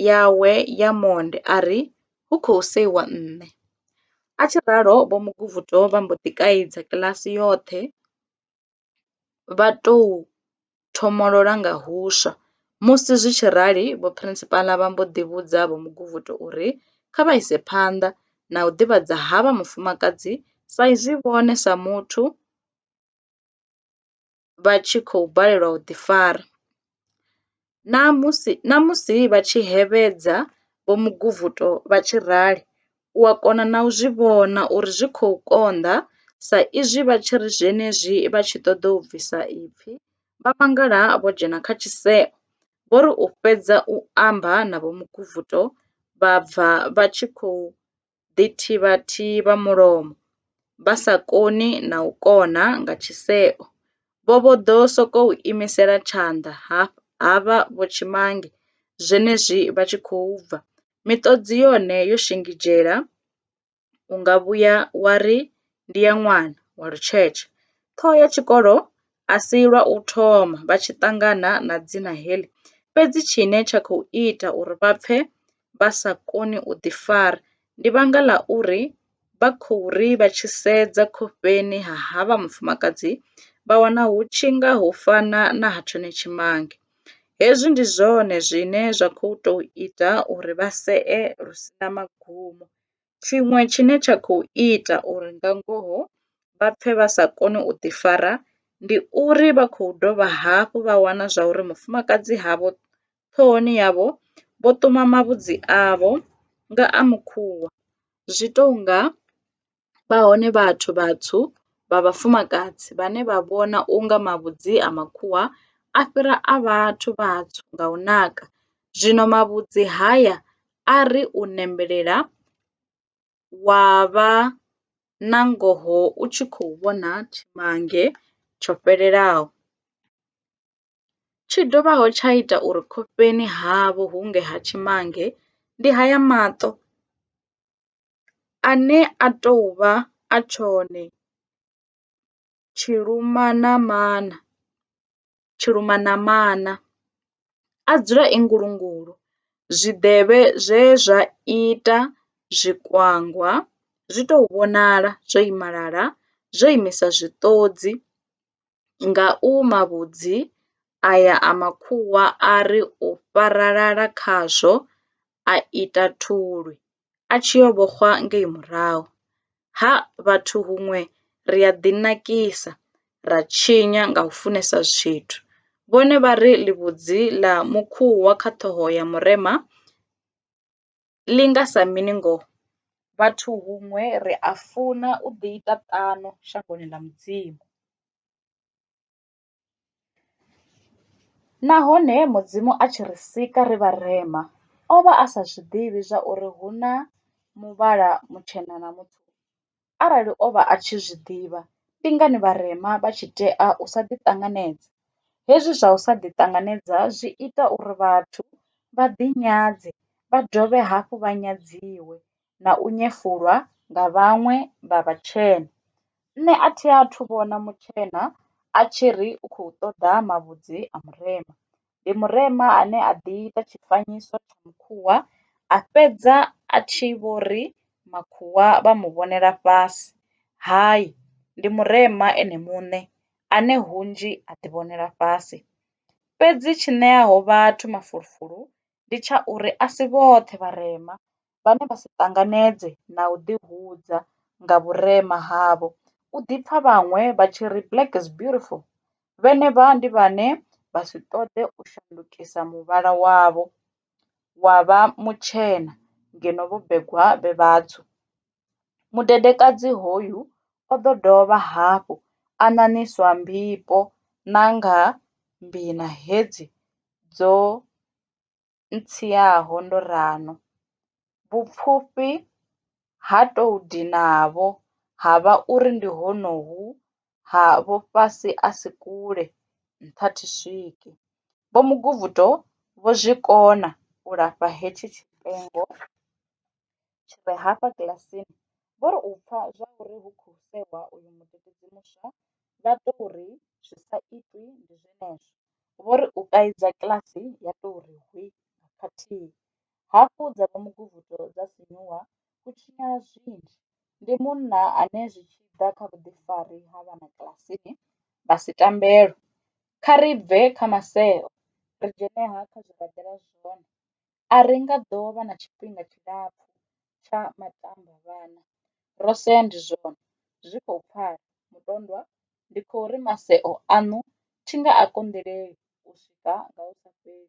yawe ya monde a ri, Hu khou seiwa nṋe! A tshi ralo Vho Muguvhuto vha mbo ḓi kaidza kiḽasi yoṱhe vha tou thomolola nga huswa. Musi zwi tshi rali Vho Phirinsipala vha mbo ḓi vhudza Vho Muguvhuto uri kha vha ise phanḓa na u ḓivhadza havha mufumakadzi sa izwi vhone sa muthu vha tshi khou balelwa u ḓifara. Na musi na musi vha tshi hevhedza Vho Muguvhuto vha tshi rali, u a kona na u zwi vhona uri zwi khou konḓa sa izwi vha tshi ri zwenezwi vha tshi ṱoḓa u bvisa ipfi, vha mangala vho dzhena kha tshiseo. Vho ri u fhedza u amba na Vho Muguvhuto, vha bva vha tshi khou ḓithivhathi vha mulomo, vha sa koni na u kona nga tshiseo, vho vho ḓo sokou imisela tshanḓa ha vha vhotshimange zwenezwi vha tshi khou bva, miṱodzi yone yo shingizhela, u nga vhuya wa ri ndi ya ṅwana wa lutshetshe. Ṱhoho ya tshikolo a si lwa u thoma vha tshi ṱangana na dzina heḽi, fhedzi tshine tsha khou ita uri vha pfe vha sa koni u ḓifara ndi vhanga ḽa uri vha khou ri vha tshi sedza khofheni ha havha mufumakadzi vha wana hu tshi nga ho fana na ha tshone tshimange. Hezwi ndi zwone zwine zwa kho to ita uri vha see lu si na magumo tshiṅwe tshine tsha kho ita uri nga ngoho vha pfhe vha sa koni u ḓi fara ndi uri vha khou dovha hafhu vha wana zwa uri mufumakadzi havho ṱhohoni yavho vho ṱuma mavhudzi avho nga a mukhuvha zwi tou nga vha hone vhathu vhatswu vha vhafumakadzi vhane vha vhona u nga mavhudzi a makhuwa a fhira a vhathu vhatswu nga u naka. Zwino mavhudzi haya a ri u nembelela wa vha na ngoho u tshi khou vhona tshimange tsho fhelelaho. tshi dovhaho tsha ita uri khofheni havho hunge ha tshimange ndi haya maṱo ane a tou vha a tshone tshilumanamana, tshilumanamana, a dzula e ngulungulu, zwiḓevhe zwe zwa ita zwikwangwa zwi tou vhonala zwo imalala, zwo imisa zwiṱodzi. nga u mavhudzi aya a makhuwa a ri u fharalala khazwo a ita thulwi a tshi yo vhoxwa ngei murahu. Ha, vhathu huṅwe ri a ḓinakisa, ra tshinya nga u funesa zwithu. Vhone vha ri ḽivhudzi ḽa mukhuwa kha ṱhoho ya murema. ḽi nga sa mini ngoho? Vhathu huṅwe ri a funa u ḓiita ṱano shangoni ḽa Mudzimu. Nahone Mudzimu a tshi ri sika ri vharema, o vha a sa zwi ḓivhi zwa uri hu na muvhala mutshena na mutswu. Arali o vha a tshi zwi ḓivha, ndi ngani vharema vha tshi tea u sa ḓiṱanganedza? Hezwi zwa u sa ḓiṱanganedza zwi ita uri vhathu vha ḓinyadze, vha dovhe hafhu vha nyadziwe na u nyefulwa nga vhaṅwe vha vhatshena. Nṋe a thi athu vhona mutshena a tshi ri u khou ṱoḓa mavhudzi a murema. ndi murema ane a ḓi ita tshifanyiso tsha mukhwa a fhedza a tshi vho ri makhwa vha mu vhonela fhasi. Hai, ndi murema ene muṋe ane hunzhi a ḓivhonela fhasi. Fhedzi tshi ṋeaho vhathu mafulufulo ndi tsha uri a si vhoṱhe vharema vhane vha si ṱanganedze na u ḓihudza nga vhurema havho u ḓipfa vhaṅwe vha tshi ri black is beautiful vhenevha ndi vhane vha si ṱoḓe u shandukisa muvhala wavho wa vha mutshena ngeno vho begwa vhe vhatswu. Mudedekadzi hoyu o ḓo dovha hafhu a ṋaṋiswa mbifho na nga mbina hedzi dzo. ntsiaho ndo ralo. Vhupfufhi ha tou dinavho ha vha uri ndi honohu ha vho fhasi a si kule, nṱha thi swike. Vho Muguvhuto vho zwi kona u lafha hetshi tshipengo. tshi re hafha kilasini vho ri u pfa zwa uri hu khou sewa uyu mudededzi muswa vha tou ri zwi sa itwi ndi zwenezwo. Vho ri u kaidza kilasi ya tou ri hwi nga khathihi. Hafhu dza vha muguvhuto dza sinyuwa hu tshinyala zwinzhi. Ndi munna ane zwi tshi ḓa kha vhuḓifari ha vhana kilasini vha si tambelwe. Kha ri bve kha maseo ri dzhene ha kha zwe ra ḓela zwone. A ri nga ḓo vha na tshifhinga tshilapfu tsha matambavhana. Ro sea ndi zwone. Zwi khou pfala, mutondwa. Ndi khou ri maseo aṋu thi nga a konḓeleli u swika nga hu sa fheli.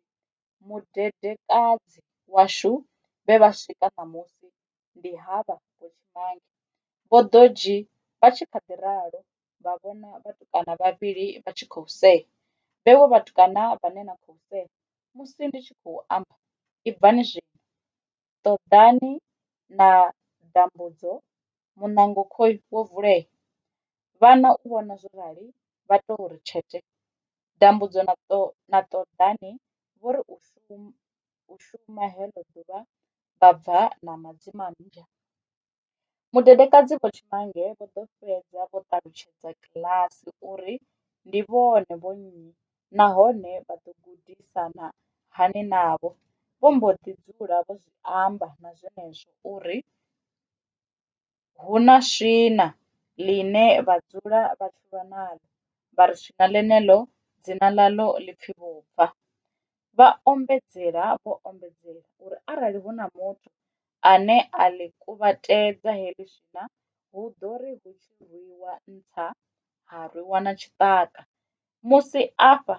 Mudedekadzi washu vhe vha swika ṋamusi ndi havha Vho Tshimange, Vho Ḓodzhi vha tshi kha ḓi ralo vha vhona vhatukana vhavhili vha tshi khou sea. Vhevho vhatukana vhane na khou sea musi ndi tshi khou amba, ibvani zwino! Ṱoḓani na dambudzo, muṋango khoi wo vulea! Vhana u vhona zwo rali vha tou ri tshete. Dambudzo na Ṱoḓani vho ri u shuma heḽo ḓuvha vha bva na madzimammbwa. Mudedekadzi Vho Chimanga vho ḓo fhedza vho ṱalutshedza kiḽasi uri ndi vhone vho nnyi nahone vha ḓo gudisana hani navho. Vho mbo ḓi dzula vho zwi amba na zwenezwo uri hu na swina ḽine vha dzula vha tshi lwa naḽo, vha ri swina ḽeneḽo dzina ḽaḽo ḽi pfi vhubva. Vha ombedzela vho ombedzelwa uri arali hu na muthu ane a ḽi kuvhatedza heḽi swina hu ḓo ri hu tshi rwiwa nṱha ha rwiwa na tshiṱaka musi afha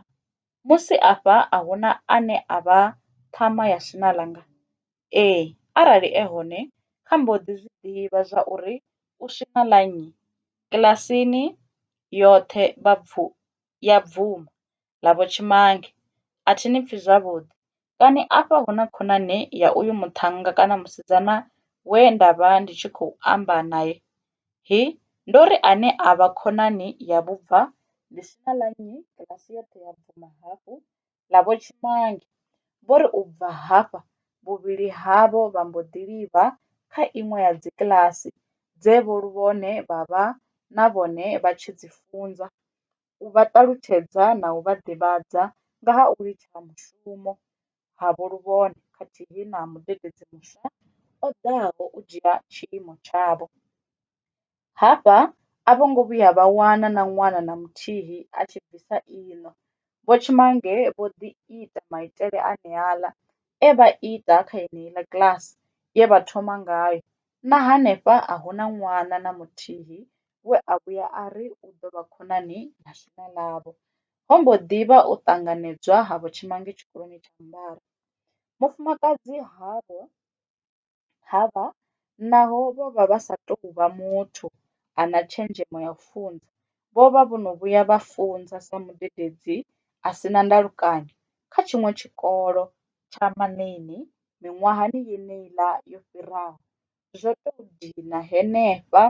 musi afha a hu na ane a vha ṱhama ya swina ḽanga? Ee, arali e hone kha mbo ḓi zwi ḓivha zwa uri u swina ḽa nnyi. Kiḽasini yoṱhe ya bvuma. ḽa Vho Tshimange, a thi ni pfi zwavhuḓi. Kani afha hu na khonani ya uyu muṱhannga kana musidzana we nda vha ndi tshi khou amba nae? Hi, ndo ri ane a vha khonani ya vhubva ḽi si na ḽa nnyi kiḽasi yoṱhe ya bvuma hafhu ḽa Vho Tshimange. Vho ri u bva hafha, vhuvhili havho vha mbo ḓi livha kha iṅwe ya dzikiḽasi dze vho Luvhone vha vha na vhone vha tshi dzi funza. u vha ṱalutshedza na u vha ḓivhadza nga ha u litsha ha mushumo havho luvhone khathihi na mudededzi muswa o ḓaho u dzhia tshiimo tshavho. Hafha a vho ngo vhuya vha wana na ṅwana na muthihi a tshi bvisa iṋo. Vho Tshimange vho ḓi ita maitele aneaḽa e vha ita kha yeneiḽa kiḽasi ye vha thoma ngayo Na hanefha a hu na ṅwana na muthihi we a vhuya a ri u ḓo vha khonani na shuma ḽavho. Ho mbo ḓi vha u ṱanganedzwa ha vhutshimange tshikoloni tsha Mbare. Mufumakadzi havho ha vha naho vho vha vha sa tou vha muthu a na tshenzhemo ya u funza, vho vha vho no vhuya vha funza sa mudededzi a si na ndalukanyo kha tshiṅwe tshikolo tsha Manini miṅwahani yeneiḽa yo fhiraho, zwo tou dina henefha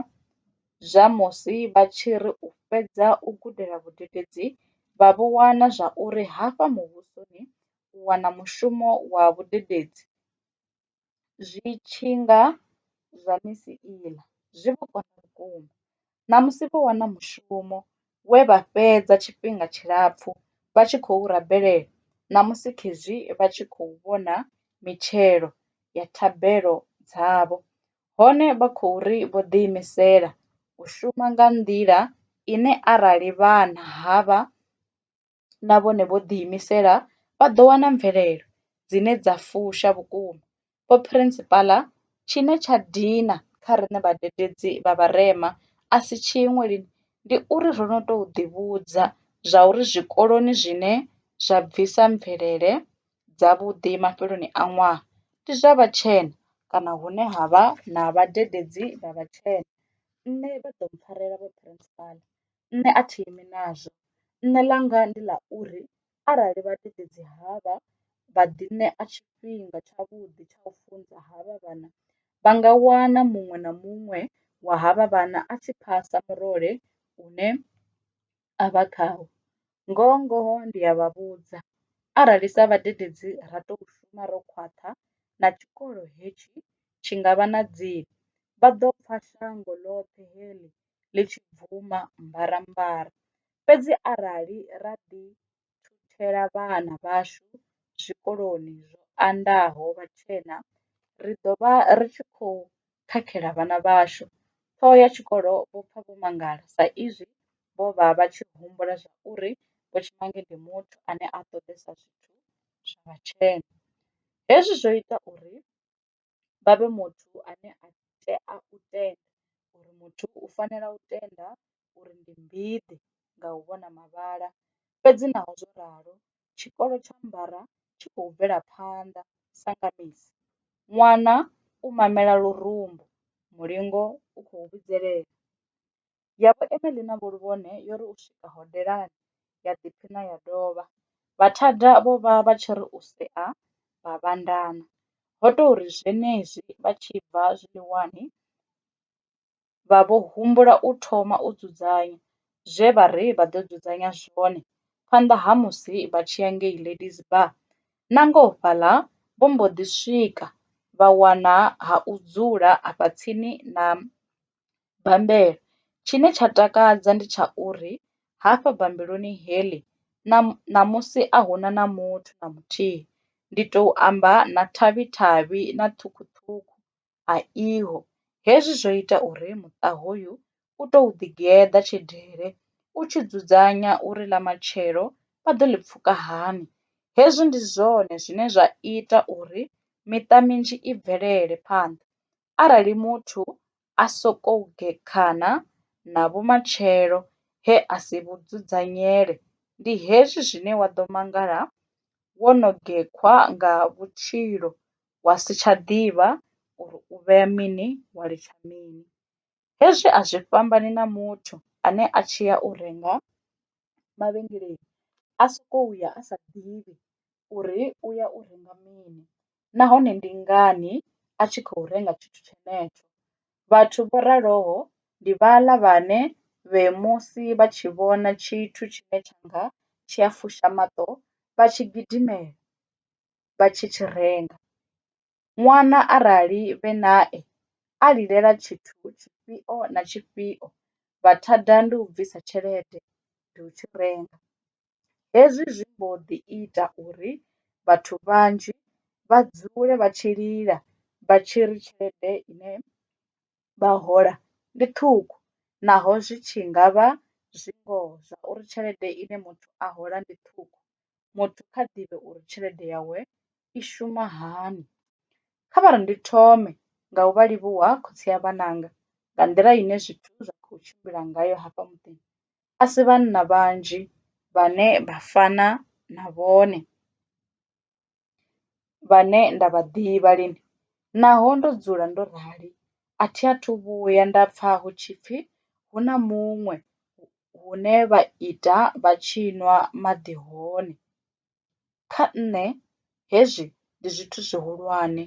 zwa musi vha tshi ri u fhedza u gudela vhadededzi vha vho wana zwa uri hafha muvhusoni u wana mushumo wa vhudededzi zwi tshi nga zwa misi iḽa zwi vho konḓa vhukuma. ṋamusi vho wana mushumo we vha fhedza tshifhinga tshilapfu vha tshi khou u rabelela, ṋamusi khezwi vha tshi khou vhona mitshelo ya thabelo dzavho, hone vha khou ri vho ḓiimisela u shuma nga nḓila ine arali vhana havha. na vhone vho ḓiimisela vha ḓo wana mvelelo dzine dza fusha vhukuma. Vho Phirinsipala, Tshine tsha dina kha riṋe vhadededzi vha vharema a si tshiṅwe lini ndi uri ro no tou ḓivhudza zwauri zwikoloni zwine zwa bvisa mvelele dzavhuḓi mafheloni a ṅwaha ndi zwa vhatshena kana hune ha vha na vhadededzi vha vhatshena. Nṋe vha ḓo mpfharela, Vho Phirinsipala, nṋe a thi imi nazwo nṋe ḽanga ndi ḽa uri arali vhadededzi havha vha ḓi ṋea tshifhinga tshavhuḓi tsha u funza havha vhana vha nga wana muṅwe na muṅwe wa havha vhana a tshi phasa murole une a vha khawo. Ngoho ngoho ndi a vha vhudza arali sa vhadededzi ra to shuma ro khwaṱha na tshikolo hetshi tshi ngavha na dziṅwe vha ḓo pfha shango ḽoṱhe heḽi ḽi tshi bvuma mbarambara. Fhedzi arali ra ḓithuthela vhana vhashu zwikoloni zwo andaho vhatshena, ri ḓo vha ri tshi khou khakhela vhana vhashu. Ṱhoho ya tshikolo vho pfa vho mangala sa izwi vho vha vha tshi humbula zwa uri Vho Tshimange ndi muthu ane a ṱoḓesa zwithu zwa vhatshena. Hezwi zwo ita uri vha vhe muthu ane a tea u tenda uri muthu u fanela u tenda uri ndi mbidi nga u vhona mavhala. Fhedzi naho zwo ralo tshikolo tsha mbara tshi khou bvela phanḓa sa nga misi, ṅwana u mamela lurumbu, mulingo u khou vhidzelela. Ya vho Emily na Vho Luvhone yo ri u swika hodelani, ya ḓiphina ya dovha. Vhathada vho vha vha tshi ri u sea vha vhandana. Ho tou ri zwenezwi vha tshi bva zwiḽiwani vha vho humbula u thoma u dzudzanya zwe vha ri vha ḓo dzudzanya zwone phanḓa ha musi vha tshi ya ngei Ladies Bar. Nangoho fhaḽa vho mbo ḓi swika vha wana ha u dzula afha tsini na Bammbela. Tshine tsha takadza ndi tsha uri hafha bambeloni heḽi ṋamusi a hu na na muthu na muthihi, ndi tou amba na thavhi thavhi na ṱhukhu ṱhukhu a iho. Hezwi zwo ita uri muṱa hoyu u tou ḓi geḓa tshidele u tshi dzudzanya uri ḽa matshelo vha ḓo ḽi pfuka hani. Hezwi ndi zwone zwine zwa ita uri miṱa minzhi i bvelele phanḓa arali muthu a sokou gekhana na vhumatshelo he a si vhu dzudzanyele, ndi hezwi zwine wa ḓo mangala wo no gekhwa nga vhutshilo wa si tsha ḓivha uri u vhea mini wa litsha mini. Hezwi a zwi fhambani na muthu ane a tshi ya u renga mavhengeleni a sokou ya a sa ḓivhi uri u ya u renga mini nahone ndi ngani a tshi khou renga tshithu tshenetsho. Vhathu vho raloho ndi vhaḽa vhane vhe musi vha tshi vhona tshithu tshine tsha nga tshi a fusha maṱo vha tshi gidimela vha tshi tshi renga. Ṅwana arali vhe nae a lilela tshithu tshifhio na tshifhio vha thada ndi u bvisa tshelede ndi u tshi renga. Hezwi zwi mbo ḓi ita uri vhathu vhanzhi vha dzule vha tshi lila vha tshi ri tshelede ine vha hola ndi ṱhukhu naho zwi tshi ngavha zwi ngoho zwa uri tshelede ine muthu a hola ndi ṱhukhu muthu kha ḓivhe uri tshelede yawe i shuma hani. Kha vhari ndi thome nga u vha livhuwa khotsi a vhananga nga nḓila ine zwithu zwa kho tshimbila ngayo hafha muḓini a si vhanna vhanzhi vhane vha fana na vhone. vhane nda vha ḓivha lini naho ndo dzula ndo rali a thi a thu vhuya nda pfha hu tshi pfhi hu na muṅwe hune vha ita vha tshi nwa maḓi hone. Kha nṋe hezwi ndi zwithu zwihulwane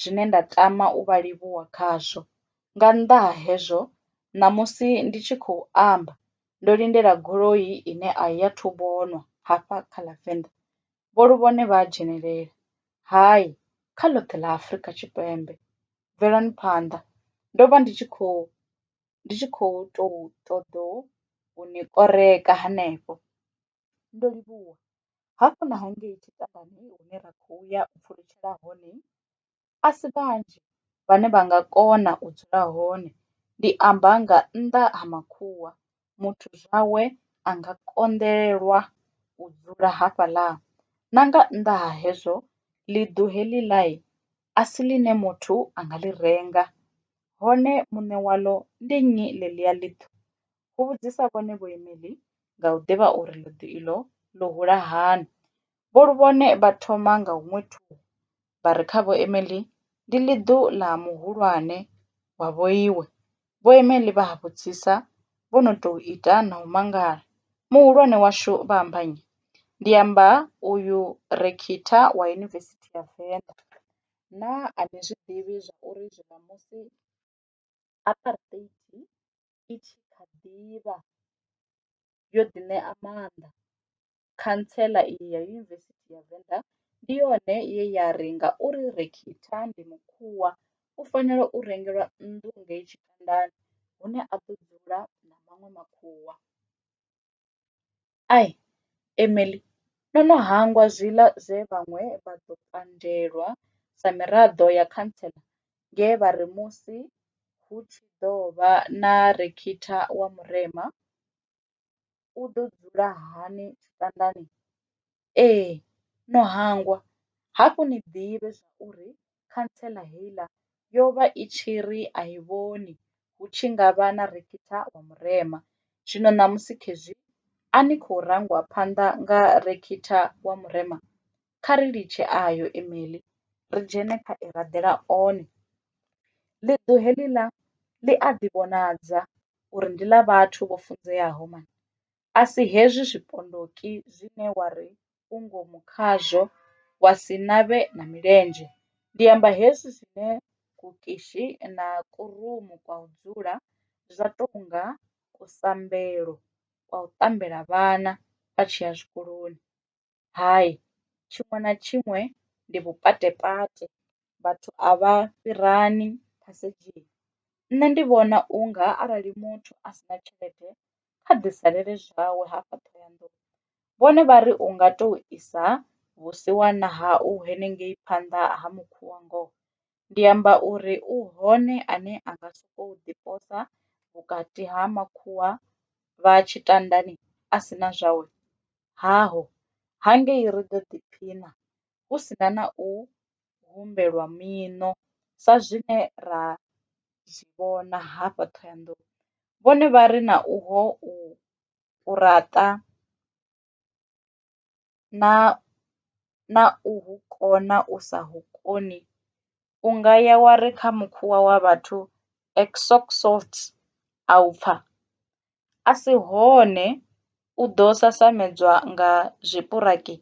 zwine nda tama u vha livhuwa khazwo, nga nnḓa ha hezwo ṋamusi ndi tshi khou amba ndo lindela goloi ine a i athu vhonwa hafha kha ḽa venḓa Vho Luvhone vha a dzhenelela. Hai, kha ḽoṱhe ḽa Afrika Tshipembe. Bvelani phanḓa. Ndo vha ndi tshi khou, ndi tshi khou tou ṱoḓou u ni koreka hanefho. Ndo livhuwa. Hafhu na hangei tshitangani hune ra khou ya u pfulutshela hone a si vhanzhi vhane vha nga kona u dzula hone ndi amba nga nnḓa ha makhuwa muthu zwawe a nga konḓelelwa u dzula hafhaḽa na nga nnḓa ha hezwo ḽi ḓo heḽi ḽa a si ḽine muthu a nga ḽi renga hone muṋe waḽo ndi nnyi ḽe ḽi a ḽi ṱuwa hu vhudzisa vhone vho imeḽi nga u ḓivha uri ḽiḓi iḽo ḽo hula hani Vho Luvhone vha thoma nga huṅwe thungo vha ri kha Vho Emely ndi ḽiḓu ḽa muhulwane wa vhoiwe. Vho Emely vha a vhudzisa vho no tou ita na u mangala, Muhulwane washu vha amba nnyi? Ndi amba uyu Rekhitha wa Yunivesithi ya Venḓa. Naa a ni zwi ḓivhi zwa uri zwiṋamusi. apartheid i tshi kha ḓivha yo ḓi ṋea maanḓa khantsela iyi ya yunivesithi ya venḓa ndi yone ye ya ri ngauri rekhitha ndi mukhwa u fanela u rengelwa nnḓu ngei tshifhingani hune a ḓo dzula na maṅwe makhuwa. Ai, Emily, no no hangwa zwiḽa zwe vhaṅwe vha ḓo pandelwa sa miraḓo ya khantsela nge vha ri musi hu tshi ḓo vha na rekhitha wa Murema, u ḓo dzula hani tshitandani? Ee no hangwa, hafhu ni ḓivhe zwa uri khantsela heiḽa yo vha i tshi ri a i vhoni hu tshi nga vha na rekitha wa murema. Zwino ṋamusi khezwi a ni khou rangwa phanḓa nga rekitha wa murema, kha ri litshe ayo e meḽi ri dzhene kha e raḓela one. Ḽiṱu heḽiḽa ḽi a ḓi vhonadza uri ndi ḽa vhathu vho funzeaho. a si hezwi zwipondoki zwine wa ri u ngomu khazwo wa si na vhe na milenzhe, ndi amba hezwi zwine kukishi na kurumu kwa u dzula zwa tou nga kusambelo kwa u ṱambela vhana vha tshi ya zwikoloni. Hai tshiṅwe na tshiṅwe ndi vhupatepate vhathu a vha fhirani phasedzhini, nṋe ndi vhona unga arali muthu a si na tshelede kha ḓi salele zwawe hafha Ṱhohoyanḓou vhone vha ri unga to isa vhusiwana hau henengei phanḓa ha mukhuvha ngoho ndi amba uri u hone ane a nga sokou ḓi posa vhukati ha makhuwa vha tshitandani a si na zwawe? Haho! Hangei ri ḓo ḓiphina hu si na na u humbelwa miṋo sa zwine ra zwi vhona hafha Ṱhohoyanḓou. Vhone vha ri na uho u raṱa na na u hu kona u sa hu koni u nga ya wa ri kha mukhuwa wa vhathu exox salt a u pfha, a si hone u ḓo sasamedzwa nga zwipuraki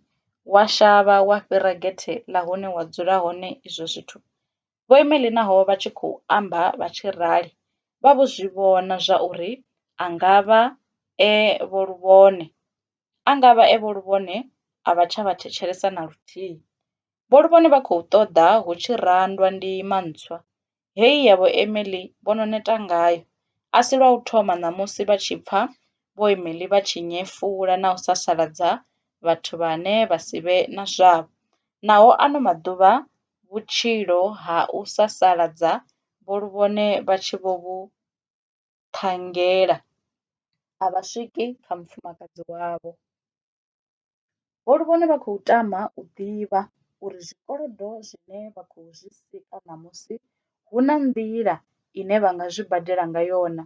wa shavha wa fhira gethe ḽa hune wa dzula hone izwo zwithu Vho Emily naho vha tshi khou amba vha tshi rali, vha vho zwi vhona zwa uri a nga vha e vho luvhone. A nga vha e vho luvhone a vha tsha vha thetshelesa na luthihi. Vho luvhone vha khou ṱoḓa hu tshi randwa ndima ntswa. Heyi ya vho Emily vho no neta ngayo. A si lwa u thoma ṋamusi vha tshi pfa vho Emily vha tshi nyefula na u sasaladza vhathu vhane vha si vhe na zwavho. Naho ano maḓuvha vhutshilo ha u sasaladza vho lu vhone vha tshi vho vhu ṱhanngela, a vha swiki kha mufumakadzi wavho. Vho lu vhone vha khou tama u ḓivha uri zwikolodo zwine vha khou zwi sika ṋamusi hu na nḓila ine vha nga zwi badela ngayo na,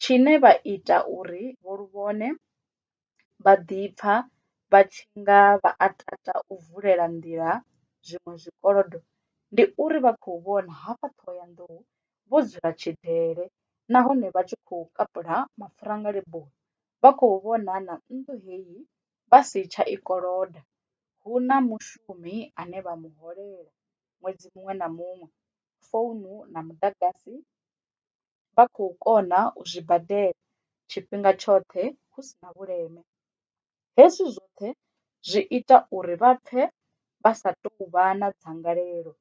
tshine vha ita uri vho lu vhone vha ḓipfa vha tshi nga vha a tata u vulela nḓila zwiṅwe zwikolodo ndi uri vha khou vhona hafha Ṱhohoyanḓou vho dzula tshidele nahone vha tshi khou kapula mapfura nga leboni vha khou vhona na nnḓu heyi vha si tsha i koloda, hu na mushumi ane vha mu holela ṅwedzi muṅwe na muṅwe, founu na muḓagasi. vha khou kona u zwi badela tshifhinga tshoṱhe hu si na vhuleme. Hezwi zwoṱhe zwi ita uri vha pfe vha sa tou vha na dzangalelo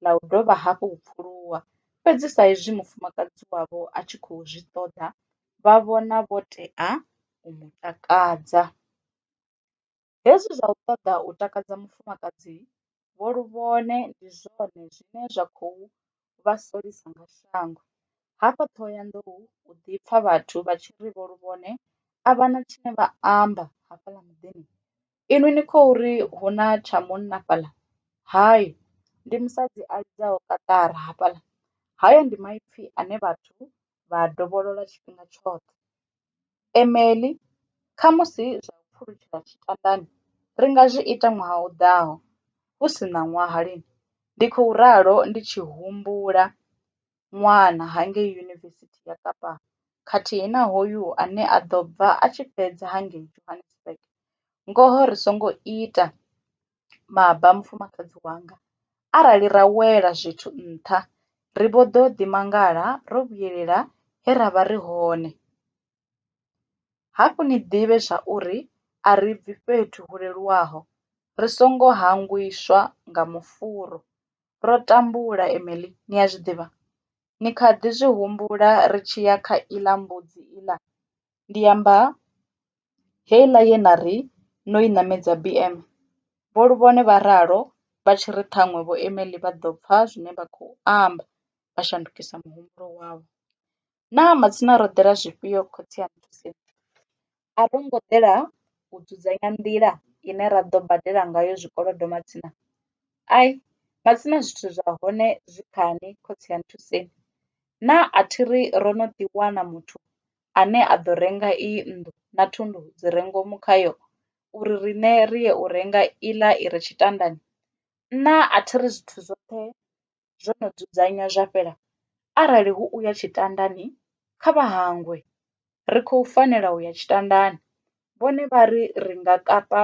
ḽa u dovha hafhu u pfuluwa, fhedzi sa izwi mufumakadzi wavho a tshi khou zwi ṱoḓa, vha vhona vho tea u mu takadza. Hezwi zwa u ṱoḓa u takadza mufumakadzi vho luvhone ndi zwone zwine zwa khou vha solisa nga shango. Hafha Ṱhohoyanḓou hu ḓi pfa vhathu vha tshi ri vho luvhone a vha na tshine vha amba hafhaḽa muḓini, inwi ni khou ri hu na tsha munna fhaḽa? Hai, ndi musadzi a lidzaho kaṱara hafhaḽa. Hayo ndi maipfi ane vhathu vha a dovholola tshifhinga tshoṱhe. Emily, Khamusi zwa u pfulutshela tshitandani ri nga zwi ita ṅwaha u ḓaho, hu si ṋaṅwaha lini? ndi khou ralo ndi tshi humbula ṅwana ha ngei Yunivesithi ya Kapa khathihi na hoyu ane a ḓo bva a tshi fhedza ha ngei Johannesburg. Ngoho ri songo ita maba mufumakadzi wanga. Arali ra wela zwithu nṱha, ri vho ḓo ḓi mangala ro vhuyelela he ra vha ri hone. Hafhu ni ḓivhe zwa uri a ri bvi fhethu hu leluwaho, ri songo hangwiswa nga mufuvha. Ro tambula, Emily ni a zwi ḓivha. Ni kha ḓi zwi humbula ri tshi ya kha iḽa mbudzi iḽa? ndi amba heiḽa ye na ri no i ṋamedza BM, Vho Luvhone vha ralo vha tshi ri ṱhaṅwe Vho Emely vha ḓo pfa zwine vha khou amba vha shandukisa muhumbulo wavho. Naa matsina ro ḓela zwifhio khotsi aṋu Thuseni? A ro ngo ḓela u dzudzanya nḓila ine ra ḓo badela ngayo zwikolodo matsina? Ai, matsina zwithu zwa hone zwi khani khotsi aṋu Thuseni. Naa a thi ri ro no ḓi wana muthu ane a ḓo renga iyi nnḓu na thundu dzi re ngomu khayo uri riṋe ri ye u renga iḽa i re tshitandani? Nṋa a thi ri zwithu zwoṱhe zwo no dzudzanywa zwa fhela, arali hu u ya tshitandani, kha vha hangwe. Ri khou fanela u ya tshitandani. Vhone vha ri ri nga kapa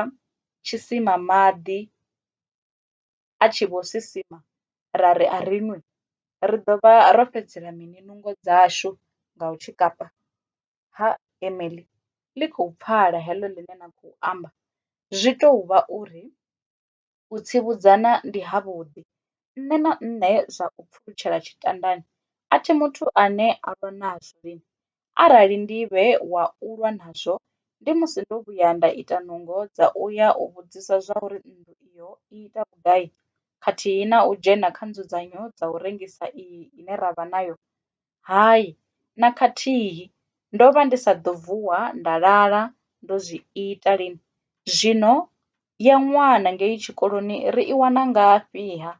tshisima maḓi. a tshi vho sisima ra ri a ri nwi ri ḓo vha ro fhedzisela mini nungo dzashu nga u tshikafha? Ha Emily, ḽi khou pfala heḽo ḽine na khou amba. Zwi tou vha uri u tsivhudzana ndi havhuḓi. Nṋe na nṋe zwa u pfulutshela tshitandani a thi muthu ane a lwa nazwo lini, Arali ndi vhe wa u lwa nazwo, ndi musi ndo vhuya nda ita nungo dza u ya u vhudzisa zwauri nnḓu iyo i ita vhugai khathihi na u dzhena kha nzudzanyo dza u rengisa iyi ine ra vha nayo? Hai, na khathihi! Ndo vha ndi sa ḓo vuwa nda lala ndo zwi ita. Lini? Zwino ya ṅwana ngei tshikoloni ri i wana ngafhi-ha?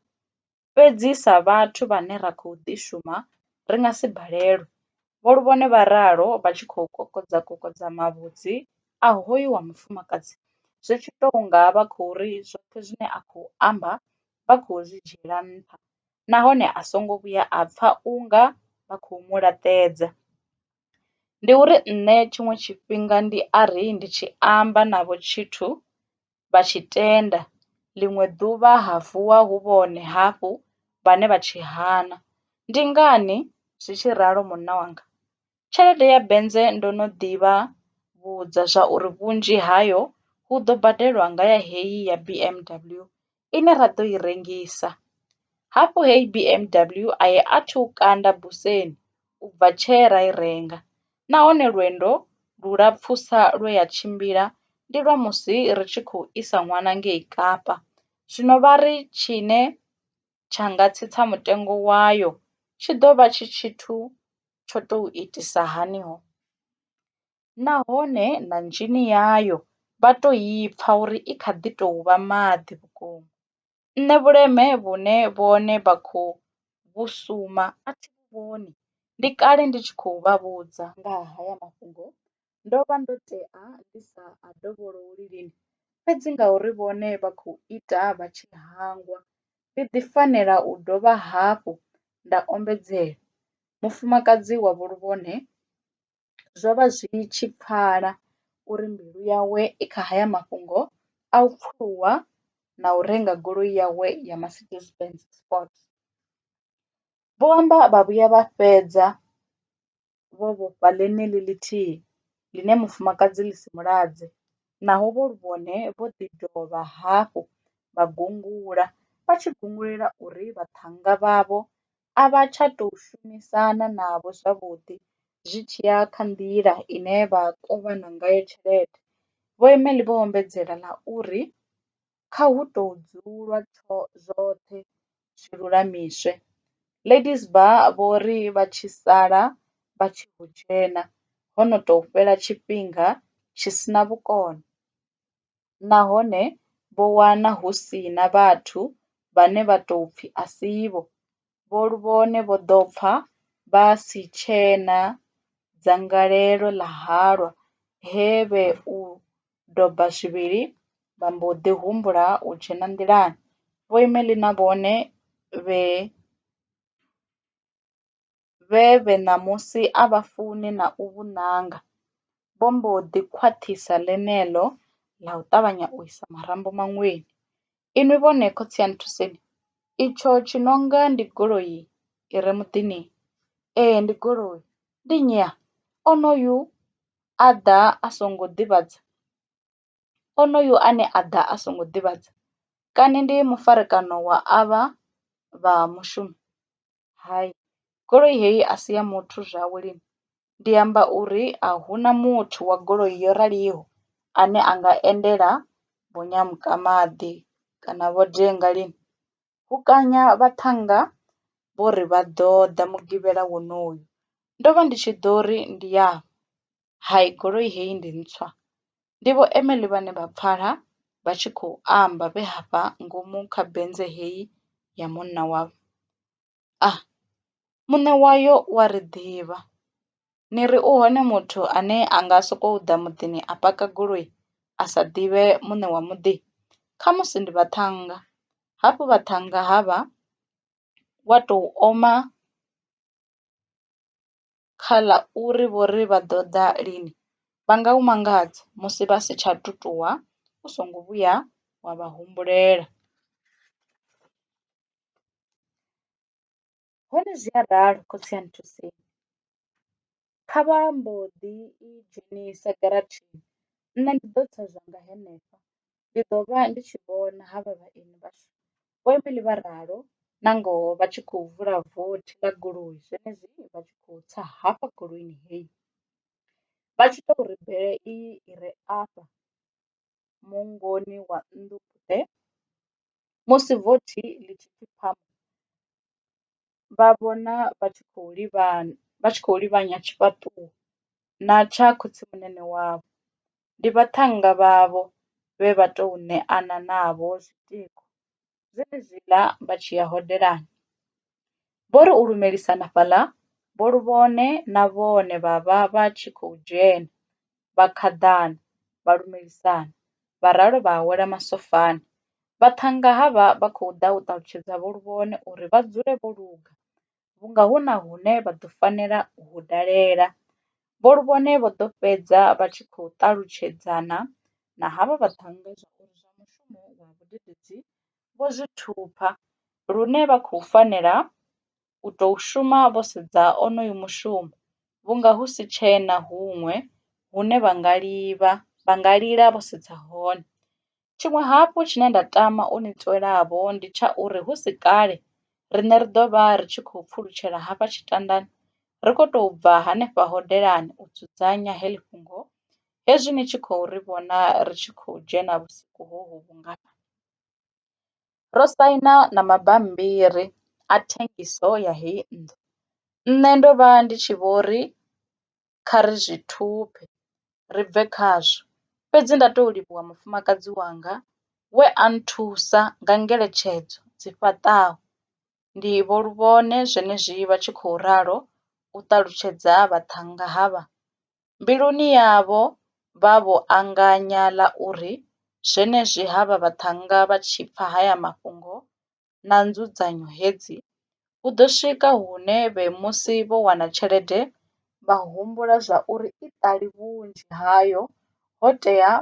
Fhedzi sa vhathu vhane ra khou ḓi shuma, ri nga si balelwe, vho Luvhone vha ralo vha tshi khou kokodza kokodza mavhudzi a hoyu wa mufumakadzi zwi tshi tou nga vha khou ri zwoṱhe zwine a khou amba vha khou zwi dzhiela nṱha nahone a songo vhuya a pfa u nga vha khou mu laṱedza. Ndi uri nṋe tshiṅwe tshifhinga ndi a ri ndi tshi amba navho tshithu vha tshi tenda, ḽiṅwe ḓuvha ha vuwa hu vhone hafhu vhane vha tshi hana. Ndi ngani zwi tshi ralo munna wanga? Tshelede ya bennze ndo no ḓi vha vhudza zwa uri vhunzhi hayo hu ḓo badelwa nga ya heyi ya B_M_W ine ra ḓo i rengisa. Hafhu heyi B_M_W a i athu kanda buseni ubva tshee ra i renga. nahone lwendo lulapfusa lwe ya tshimbila ndi lwa musi ri tshi khou isa ṅwana ngei Kapa. Zwino vha ri tshine tsha nga tsitsa mutengo wayo tshi ḓo vha tshi tshithu tsho tou itisa hani ho, nahone na nzhini yayo vha tou i pfa uri i kha ḓi tou vha maḓi vhukuma. nṋe vhuleme vhune vhone vha khou vhu suma a thi vhu vhoni, ndi kale ndi tshi khou vha vhudza nga ha haya mafhungo, ndo vha ndo tea ndi sa a dovhololi lini, fhedzi ngauri vhone vha khou ita vha tshi hangwa, ndi ḓi fanela u dovha hafhu nda ombedzela. Mufumakadzi wa vhuluvhone. zwo vha zwi tshi pfala uri mbilu yawe i kha haya mafhungo a u pfuwa na u renga goloi yawe ya Mercedes Benz Sport. Vho amba vha vhuya vha fhedza vho vhofha ḽeneḽi ḽithihi ḽine mufumakadzi ḽi si mu ladze naho vho ri vhone vho ḓi dovha hafhu vha gungula vha tshi gungulela uri vhaṱhannga vhavho a vha tsha tou shumisana navho zwavhuḓi zwi tshi ya kha nḓila ine vha kovhana ngayo tshelede. Vho Emelli vho ombedzela na uri, Kha hu tou dzulwa zwoṱhe zwi lulamiswe. Ladies Bar vho ri vha tshi sala vha tshi ḓo dzhena ho no tou fhela tshifhinga tshi si na vhukono. nahone vho wana hu si na vhathu vhane vha tou pfi a si vho, vhone vho ḓo pfa vha si tshena dzangalelo ḽa halwa he vhe u doba zwivhili vha mbo ḓi humbula u dzhena nḓilani. Vho Emeline na vhone vhe. vhe vhe ṋamusi a vha funi na u vhu nanga, vho mbo ḓi khwaṱhisa ḽeneḽo ḽa u ṱavhanya u isa marambo maṅweni. Inwi vhone khotsi a nthuseni, itsho tshi no nga ndi goloi i re muḓini? Ee, ndi goloi. Ndi nnyi a? Onoyu a ḓa a songo ḓivhadza, onoyu ane a ḓa a songo ḓivhadza kani ndi mufarekano wa avha vha mushumi? hai goloi heyi a si ya muthu zwawe lini ndi amba uri a huna muthu wa goloi yo raliho ane a nga endela vho Nyamuka-maḓi kana vho Denga lini hu kanya vhaṱhannga vho ri vha ḓo ḓa mugivhela wonoyu ndo vha ndi tshi ḓo ri ndi ya. hai goloi heyi ndi ntswa ndi vho Emely vhane vha pfala vha tshi khou amba vhe hafha ngomu kha Benz heyi ya munna wavho. A, muṋe wayo u a ri ḓivha, ni ri u hone muthu ane a nga sokou ḓa muḓini a paka goloi a sa ḓivhe muṋe wa muḓi? Khamusi ndi vhaṱhannga, hafhu vhaṱhannga havha wa tou oma kha ḽa uri vho ri vha ḓo ḓa lini, vha nga u mangadza musi vha si tsha tu ṱuwa u songo vhuya wa vha humbulela. Hone zwi a ralo khotsi a nthuseni, kha vha mbo ḓi i dzhenisa giratshini nṋe ndi ḓo tsa zwanga henefha ndi ḓo vha ndi tshi vhona ha vha vhaeni vhashu. Vho Emily vha ralo, na ngoho vha tshi khou vula vothi ḽa goloi zwenezwino vha tshi khou tsa hafha goloini heyi. Vha tshi tou ri bele iyi i re afha mungoni wa nnḓu phute, musi vothi ḽi tshi pfi phamu, vha vhona vha tshi khou livhana, vha tshi khou livhanya tshifhaṱuwo na tsha khotsimunene wavho. ndi vhaṱhannga vhavho vhe vha tou ṋeana navho zwitiko zwenezwiḽa vha tshi ya hodelani. Vho ri u lumelisana fhaḽa, vho lu vhone na vhone vha vha vha tshi khou dzhena, vha khaḓana, vha lumelisana, vha ralo vha awela masofani. Vhaṱhannga havha vha khou ḓa u ṱalutshedza vho Luvhone uri vha dzule vho luga, vhunga hu na hune vha ḓo fanela u hu dalela. Vho Lubone vho ḓo fhedza vha tshi khou ṱalutshedzana na havha vhaṱhannga zwauri zwa mushumo wa vhudededzi vho zwi thupha lune vha khou fanela u tou shuma vho sedza onoyu mushumo vhunga hu si tshena huṅwe hune vha nga livha, vha nga lila vho sedza hone. Tshiṅwe hafhu tshine nda tama u ni tswela-vho ndi tsha uri hu si kale riṋe ri ḓo vha ri tshi khou pfulutshela hafha tshitandani ri khou tou bva henefha hodelani u dzudzanya heḽi fhungo hezwi ni tshi khou ri vhona ri tshi khou dzhena vhusiku hohu vhungafha. Ro saina na mabammbiri a thengiso ya heyi nnḓu. Nṋe ndo vha ndi tshi vho ri kha ri zwi thuphe ri bve khazwo. Fhedzi nda tou livhuwa mufumakadzi wanga we a nthusa nga ngeletshedzo dzi fhaṱaho. Ndi vho Luvhone zwenezwi vha tshi khou ralo u ṱalutshedza vhaṱhannga havha. Mbiluni yavho vha vho anganya ḽa uri zwenezwi havha vhaṱhannga vha tshi pfa haya mafhungo na nzudzanyo hedzi, hu ḓo swika hune vhe musi vho wana tshelede vha humbula zwa uri i ṱali vhunzhi hayo ho tea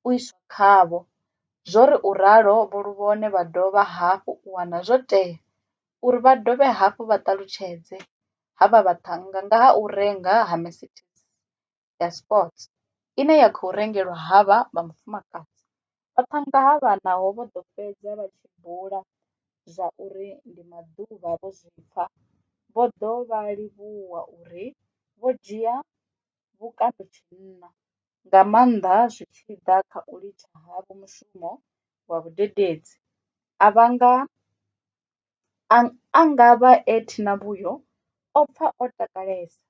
u iswa khavho. Zwo ri u ralo Vho Luvhone vha dovha hafhu u wana zwo tea uri vha dovhe hafhu vha ṱalutshedze ha vha vhaṱhannga nga ha u renga ha Mercedes. ya Sport, ine ya khou rengelwa havha vha mufumakadzi. Vha ṱhannga ha vha naho vho ḓo fhedza vha tshi bula zwa uri ndi maḓuvha vho zwi pfa, vho ḓo vha livhuwa uri vho dzhia vhukando tshinna, nga maanḓa zwi tshi ḓa kha u litsha havho mushumo wa vhadededzi, a vhanga A nga vha e Tina Vhuyo o pfa o takalesa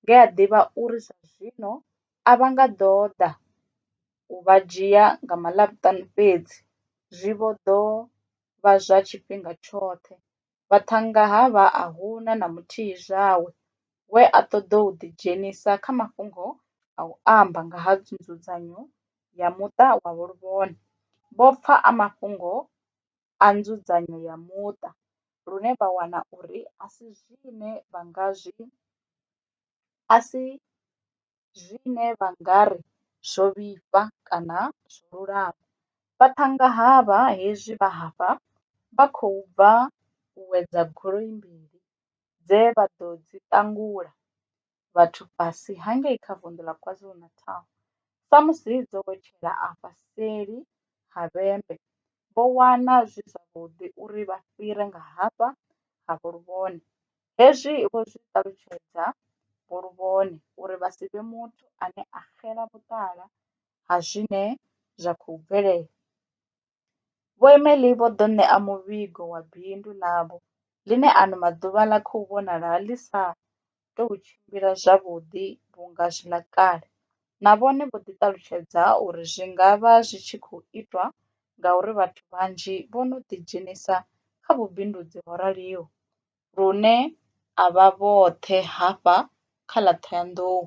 nge a ḓivha uri zwa zwino a vha nga ḓo ḓa u vha dzhia nga Maḽavhuṱanu fhedzi, zwi vho ḓo vha zwa tshifhinga tshoṱhe. Vhaṱhannga ha vha a hu na na muthihi zwawe we a ṱoḓa u ḓidzhenisa kha mafhungo a u amba nga ha nzudzanyo ya muṱa wa Vho Luvhone. Vho pfa a mafhungo a nzudzanyo ya muṱa lune vha wana uri a si zwine vha nga zwi a si zwine vha nga ri zwo vhifha kana zwo lulama. Vha thanga havha hezwi vha hafha vha khou bva u wedza goloi mbili dze vha ḓo dzi ṱangula vhathu fhasi ha ngei kha vunḓu ḽa KwaZulu-Natal. Samusi dzo wetshela afha seli ha vhembe, vho wana zwi zwavhuḓi uri vha fhire nga hafha ha Vho Luvhone. Hezwi vho zwi ṱalutshedza Vho Luvhone uri vha si vhe muthu ane a xela vhuṱala ha zwine zwa khou bvelela. Vho Emely vho ḓo ṋea muvhigo wa bindu ḽavho ḽine ano maḓuvha ḽa khou vhonala ḽi sa tou tshimbila zwavhuḓi vhunga zwi ḽa kale. Na vhone vho ḓi ṱalutshedza uri zwi nga vha zwi tshi khou itwa ngauri vhathu vhanzhi vho no ḓidzhenisa kha vhubindudzi ho raliho lune a vha vhoṱhe hafha kha ḽa Ṱhohoyanḓou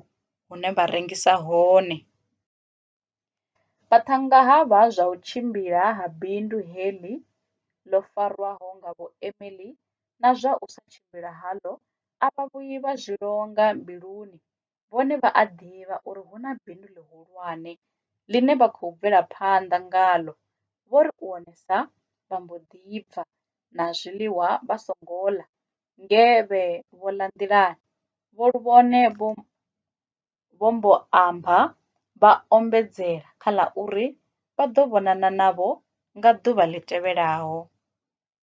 hune vha rengisa hone. Vhaṱhannga ha vha zwa u tshimbila ha bindu heḽi ḽo farwaho nga Vho Emily na zwa u sa tshimbila haḽo a vha vhuyi vha zwi longa mbiluni, vhone vha a ḓivha uri hu na bindu ḽihulwane ḽine vha khou bvela phanḓa ngaḽo, vho ri u wonesa vha mbo ḓi bva na zwiḽiwa vha songo ḽa nge vhe vho ḽa nḓilani, vho luvhone vho vho mbo amba vha ombedzela kha ḽa uri vha ḓo vhonana navho nga ḓuvha ḽi tevhelaho.